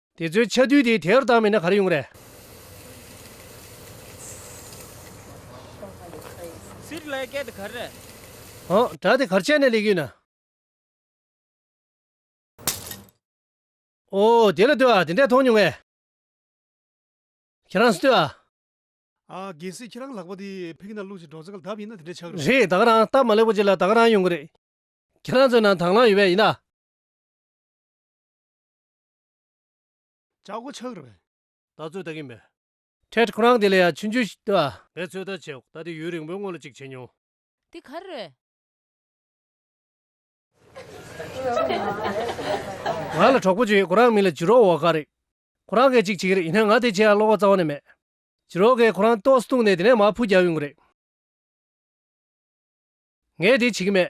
དེ་ཚོའི་ཆ་རྡུལ་དེ་དེར་བཏང་མེད་ན་ག་རེ་ཡོང་རེད། སིར་ལའི་སྐད་དེ་ག་རེད། ཨང་གྲགས་དེ་གར་ཆས་ནས་ལེགས་ཡོད་ན། ཨོ་དེ་ལ་ལྟོས་ཨ་དེ་འདྲས་མཐོང་མྱོང་ངས། ཁྱེད་རང་ལྟོས་ཨ། ཨ་གལ་སྲིད་ཁྱེད་རང་ལག་པ་དེ་ཕི་གི་ནང་བླུགས་ཤིང་འགྲོགས་ཚར་ག་ལ་ལྡབ་ཡིན་ན་དེ་འདྲས་ཆགས་རོགས། རེད་ད་ག་རང་སྟབས་མ་ལེགས་པོ་བྱེད་ལ་ད་ག་རང་ཡོང་གི་རེད། ཁྱེད་རང་ཚོའི་ནང་དྭངས་བླངས་ཡོད་པས་ཡིན་ན། བྱ་སྒོ་ཆགས་རེད། ད་ཚོད་ལྟ་གིན་པས། ཁྲེད་ཁོ་རང་དེ་ལ་ཡང་ཕྱི་འཇུ་ཞིག་ལྟོས་ཨ། ངས་ཚོད་ལྟ་བྱས་འོག་ད་དེ་ཡུན་རིང་པོའི་སྔོན་ལ་ཅིག་བྱས་མྱོང། འདི་ག་རེད། ང་ལ་གྲོགས་པོ་གཅིག་ཡོད་ཁོ་རང་མིང་ལ་ཇི་རོག་ཝོ་ཀ་རེད། ཁོ་རང་སྐད་ཅིག་བྱེད་ཀྱི་རེད་ཡིན་ནའི་ང་དེ་ཆེ་ཡང་བློ་ཁོག་རྩ་བ་ནས་མེད། ཇི་རོག་གས་ཁོ་རང་ཏོག་སི་བཏུངས་ནས་དེ་ནས་མར་འཕུར་རྒྱག་ཡོང་གི་རེད། ངས་དེ་བྱེད་ཀྱི་མེད།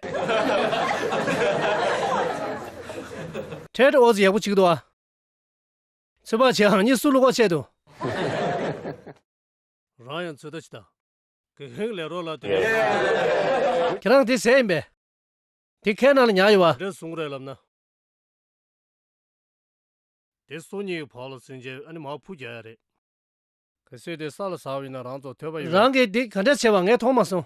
ཐྲེད་ཨོ་ཟི་ཡག་པོ་བྱེད་ཀྱི་འདུག་ཨ། ཚོད་དཔག་བྱས་ཨང་ཉིད་སུ་བླུག་པ་བཤད་དུ། རང་ཡང་ཚོད་ལྟ་བྱེད། གིས་ཧིང་ལེ་རོ་ལ་དེ་འདྲ་བཟུང། ཁྱེད་རང་དེ་ཟས་ཡིན་པས། དེ་ཁའི་ནང་ལ་ཉར་ཡོད་བ། དེ་འདྲ་བཟུང་རེད་ལབ་ན། དེ་སོ་གཉིས་ཀྱི་བར་ལ་བཟུང་རྗེས་ཨ་ནི་མར་ཕུ་རྒྱག་ཡ་རེད། གིས་སོས་དེ་ས་ལ་ཟག་བས་ན་རང་ཚོ་ཐོད་པ་ཡོད། རང་གིས་དེ་ག་འདྲ་བྱས་པ་ངས་མཐོང་མ་སོང།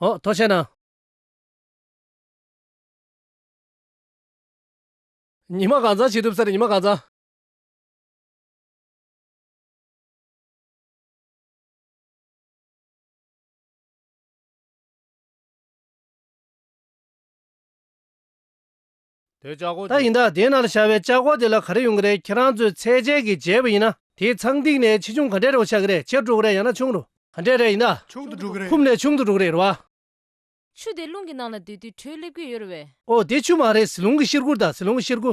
ཨོ་ཐོ་ཤ་ན། ཉི་མ་གང་ཚང་བྱེད་ཐུབ་ས་རེད་ཉི་མ་གང་ཚང། ད་ཡིན་དཱ་དེ་ནར་བཞག་པའི་ལྕགས་སྒོ་དེ་ལ་ག་རེ་ཡོང་གི་རེད་ཁྱེད་རང་ཚོས་ཚད་འཇལ་གྱིས་འཇལ་བ་ཡིན་ན་དེའི་ཚང་སྟེང་ནས་ཆེ་ཆུང་ག་འདྲའི་རེ་བ་ཆགས་ཀྱི་རེད་ཆེ་དྲུག་རེད་ཡང་ན་ཆུང་རུ་ག་འདྲའི་རེད་ཡིན་དཱ། ཆུང་དུ་དྲུག་རེད། ཁུམ་ནས་ཆུང་དུ་དྲུག་རེད་རེད་བ། ཆུ་དེ་རླུང་གི་ནང་ལ་སྡོད་དུས་དྲོད་སླེབས་ཀྱི་ཡོད་རེད་བས། ཨོ་དེ་ཆུ་མ་རེད་ཟི་ལུང་གི་གཤེར་ཁུ་དང་ཟི་ལུང་གི་གཤེར་ཁུ།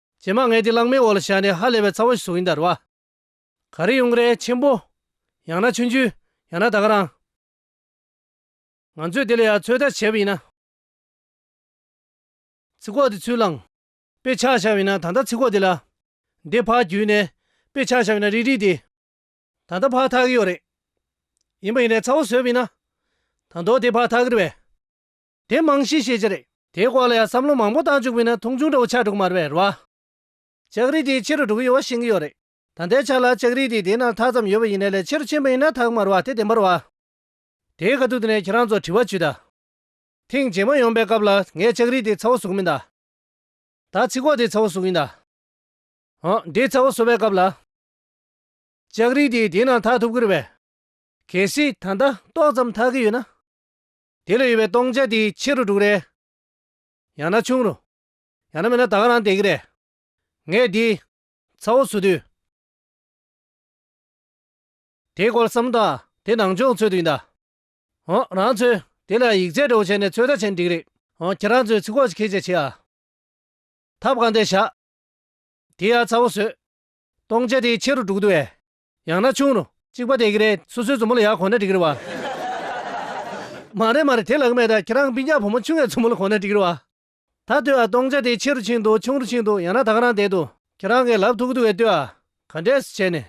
བྱེ་མ་ལྔས་དེ་གླང་མའི་འོག་ལ་བཞག་ནས་ཧ་ལས་པའི་ཚ་བོ་ཞིག་བཟུང་ཡིན་དར་བ། ག་རེ་ཡུང་རེ་ཆེན་པོ། ཡང་ན་ཆུན་ཆུན། ཡང་ན་ད་ག་རང། ང་ཚོས་དེ་ལ་ཡང་ཚོད་ལྟ་བྱས་པ་ཡིན་ན། ཚི་ཁོག་དེ་ཚུར་བླངས། དཔེ་ཆ་བཞག་ཡིན་ན་ད་ལྟ་ཚི་ཁོག་དེ་ལ། འདི་ཕག་བརྒྱུད་ནས་དཔེ་ཆ་བཞག་ཡིན་ན་རིག་རིག་དེ། ད་ལྟ་ཕག་འཐག་གི་ཡོད་རེད། ཡིན་པ་ཡིན་ནས་ཚ་བོ་བཟོས་པ་ཡིན་ན། ད་མདོག་དེ་ཕག་འཐག་གི་རེད་བས། དེ་རྨང་གཞིའི་ཤེས་བྱ་རེད། དེའི་སྐོར་ལ་ཡང་བསམ་བློ་མང་པོ་བཏང་བཅུག་མིན་ན་མཐོང་ཆུང་འདྲ་བོ་ཆགས་འགྲོ་གི་མ་རེད་བས་ར། ལྕགས་རི་དེ་ཕྱི་རུ་འགྲོ་གི་ཡོད་བ་ཤེས་ཀྱི་ཡོད་རེད། ད་ལྟའི་ཆ་ལ་ལྕགས་རི་དེ་དེ་ན་ཐག་ཙམ་ཡོད་པ་ཡིན་ན་ལས་ཕྱི་རུ་ཕྱིན་པ་ཡིན་ན་ཐག་དམར་བ་དེ་བདེན་པར་བ། དེའི་ཁ་ཐུག་དེ་ནས་ཁྱེད་རང་ཚོ་དྲི་བ་བྱུས་ད། ཐེངས་རྗེས་མ་ཡོང་པའི་སྐབས་ལ་ངས་ལྕགས་རི་དེ་ཚ་བོ་བཟོ་གི་མིན་ད། ད་ཚི་གོག་དེ་ཚ་བོ་བཟོ་གི་ཡིན་ད། ཨ། དེ་ཚ་བོ་བཟོ་བའི་སྐབས་ལ། ལྕགས་རི་དེ་དེ་ན་ཐག་ཐུབ་ཀི་རེད་བས། གལ་སྲིད་ད་ལྟ་ཏོག་ཙམ་ཐག་གི་ཡོད་ན། དེ་ལ་ཡོད་པའི་སྟོང་ཆ་དེའི་ཕྱི་རུ་དྲུག་རེད། ཡང་ན་ཆུང་རུ། ཡང་ན་མེད་ན་ད་ག་རང་བདེ་གི་རེད། ངས་འདི། ཚ་བོ་ཚུར་དུས། དེའི་སྐོར་བསམ་བློ་དང་དེ་ནང་སྦྱོང་ཚོད་དུ་ཡིན་ད། འོང། རང་ཚོས་དེ་ལ་ཡིག་ཆའི་འདྲ་བོ་བྱས་ནས་ཚོད་ལྟ་བྱས་ན་འགྲིག་གི་རེད། འོང། ཁྱེད་རང་ཚོས་ཚིག་ཁོག་ཅིག་ཁེ་བྱས་བྱེད་ཨ། ཐབས་གང་བདེ་བཞག། དེའི་ཨ་ཚ་བོ་བཟོས། སྟོང་ཆ་དེའི་ཕྱི་རུ་དྲུག་འདུག་ཨེ། ཡང་ན་ཆུང་རུ། གཅིག་པ་དེ་གི་རེད་སོ་སོའི་མཛུབ་མོ་ལ་ཡག་གོ་ན་འགྲིག་རེད་བ། མ་རེད་མ་རེད་དེ་ལག་མེད་ད་ཁྱེད་རང་བིན་ཅག་བུ་མོ་ཆུང་བའི་མཛུབ་མོ་ལ་གོ་ན་འགྲིག་རེད་བ། ད་ལྟོས་ཨ་སྟོང་ཆ་དེ་ཆེ་རུ་ཕྱིན་འདུག་ཆུང་རུ་ཕྱིན་འདུག་ཡང་ན་ད་ག་རང་བསྡད་འདུག་ཁྱེད་རང་གི་ལབ་ཐུག་གི་འདུག་བས་ལྟོས་ཨ། ག་འདྲས་བྱས་ནས།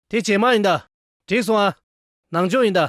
དེ་ཇེ་མང་ཡིན་ད། འགྲིག་སོང་ཨ། ནང་ཆོས་ཡིན་ད།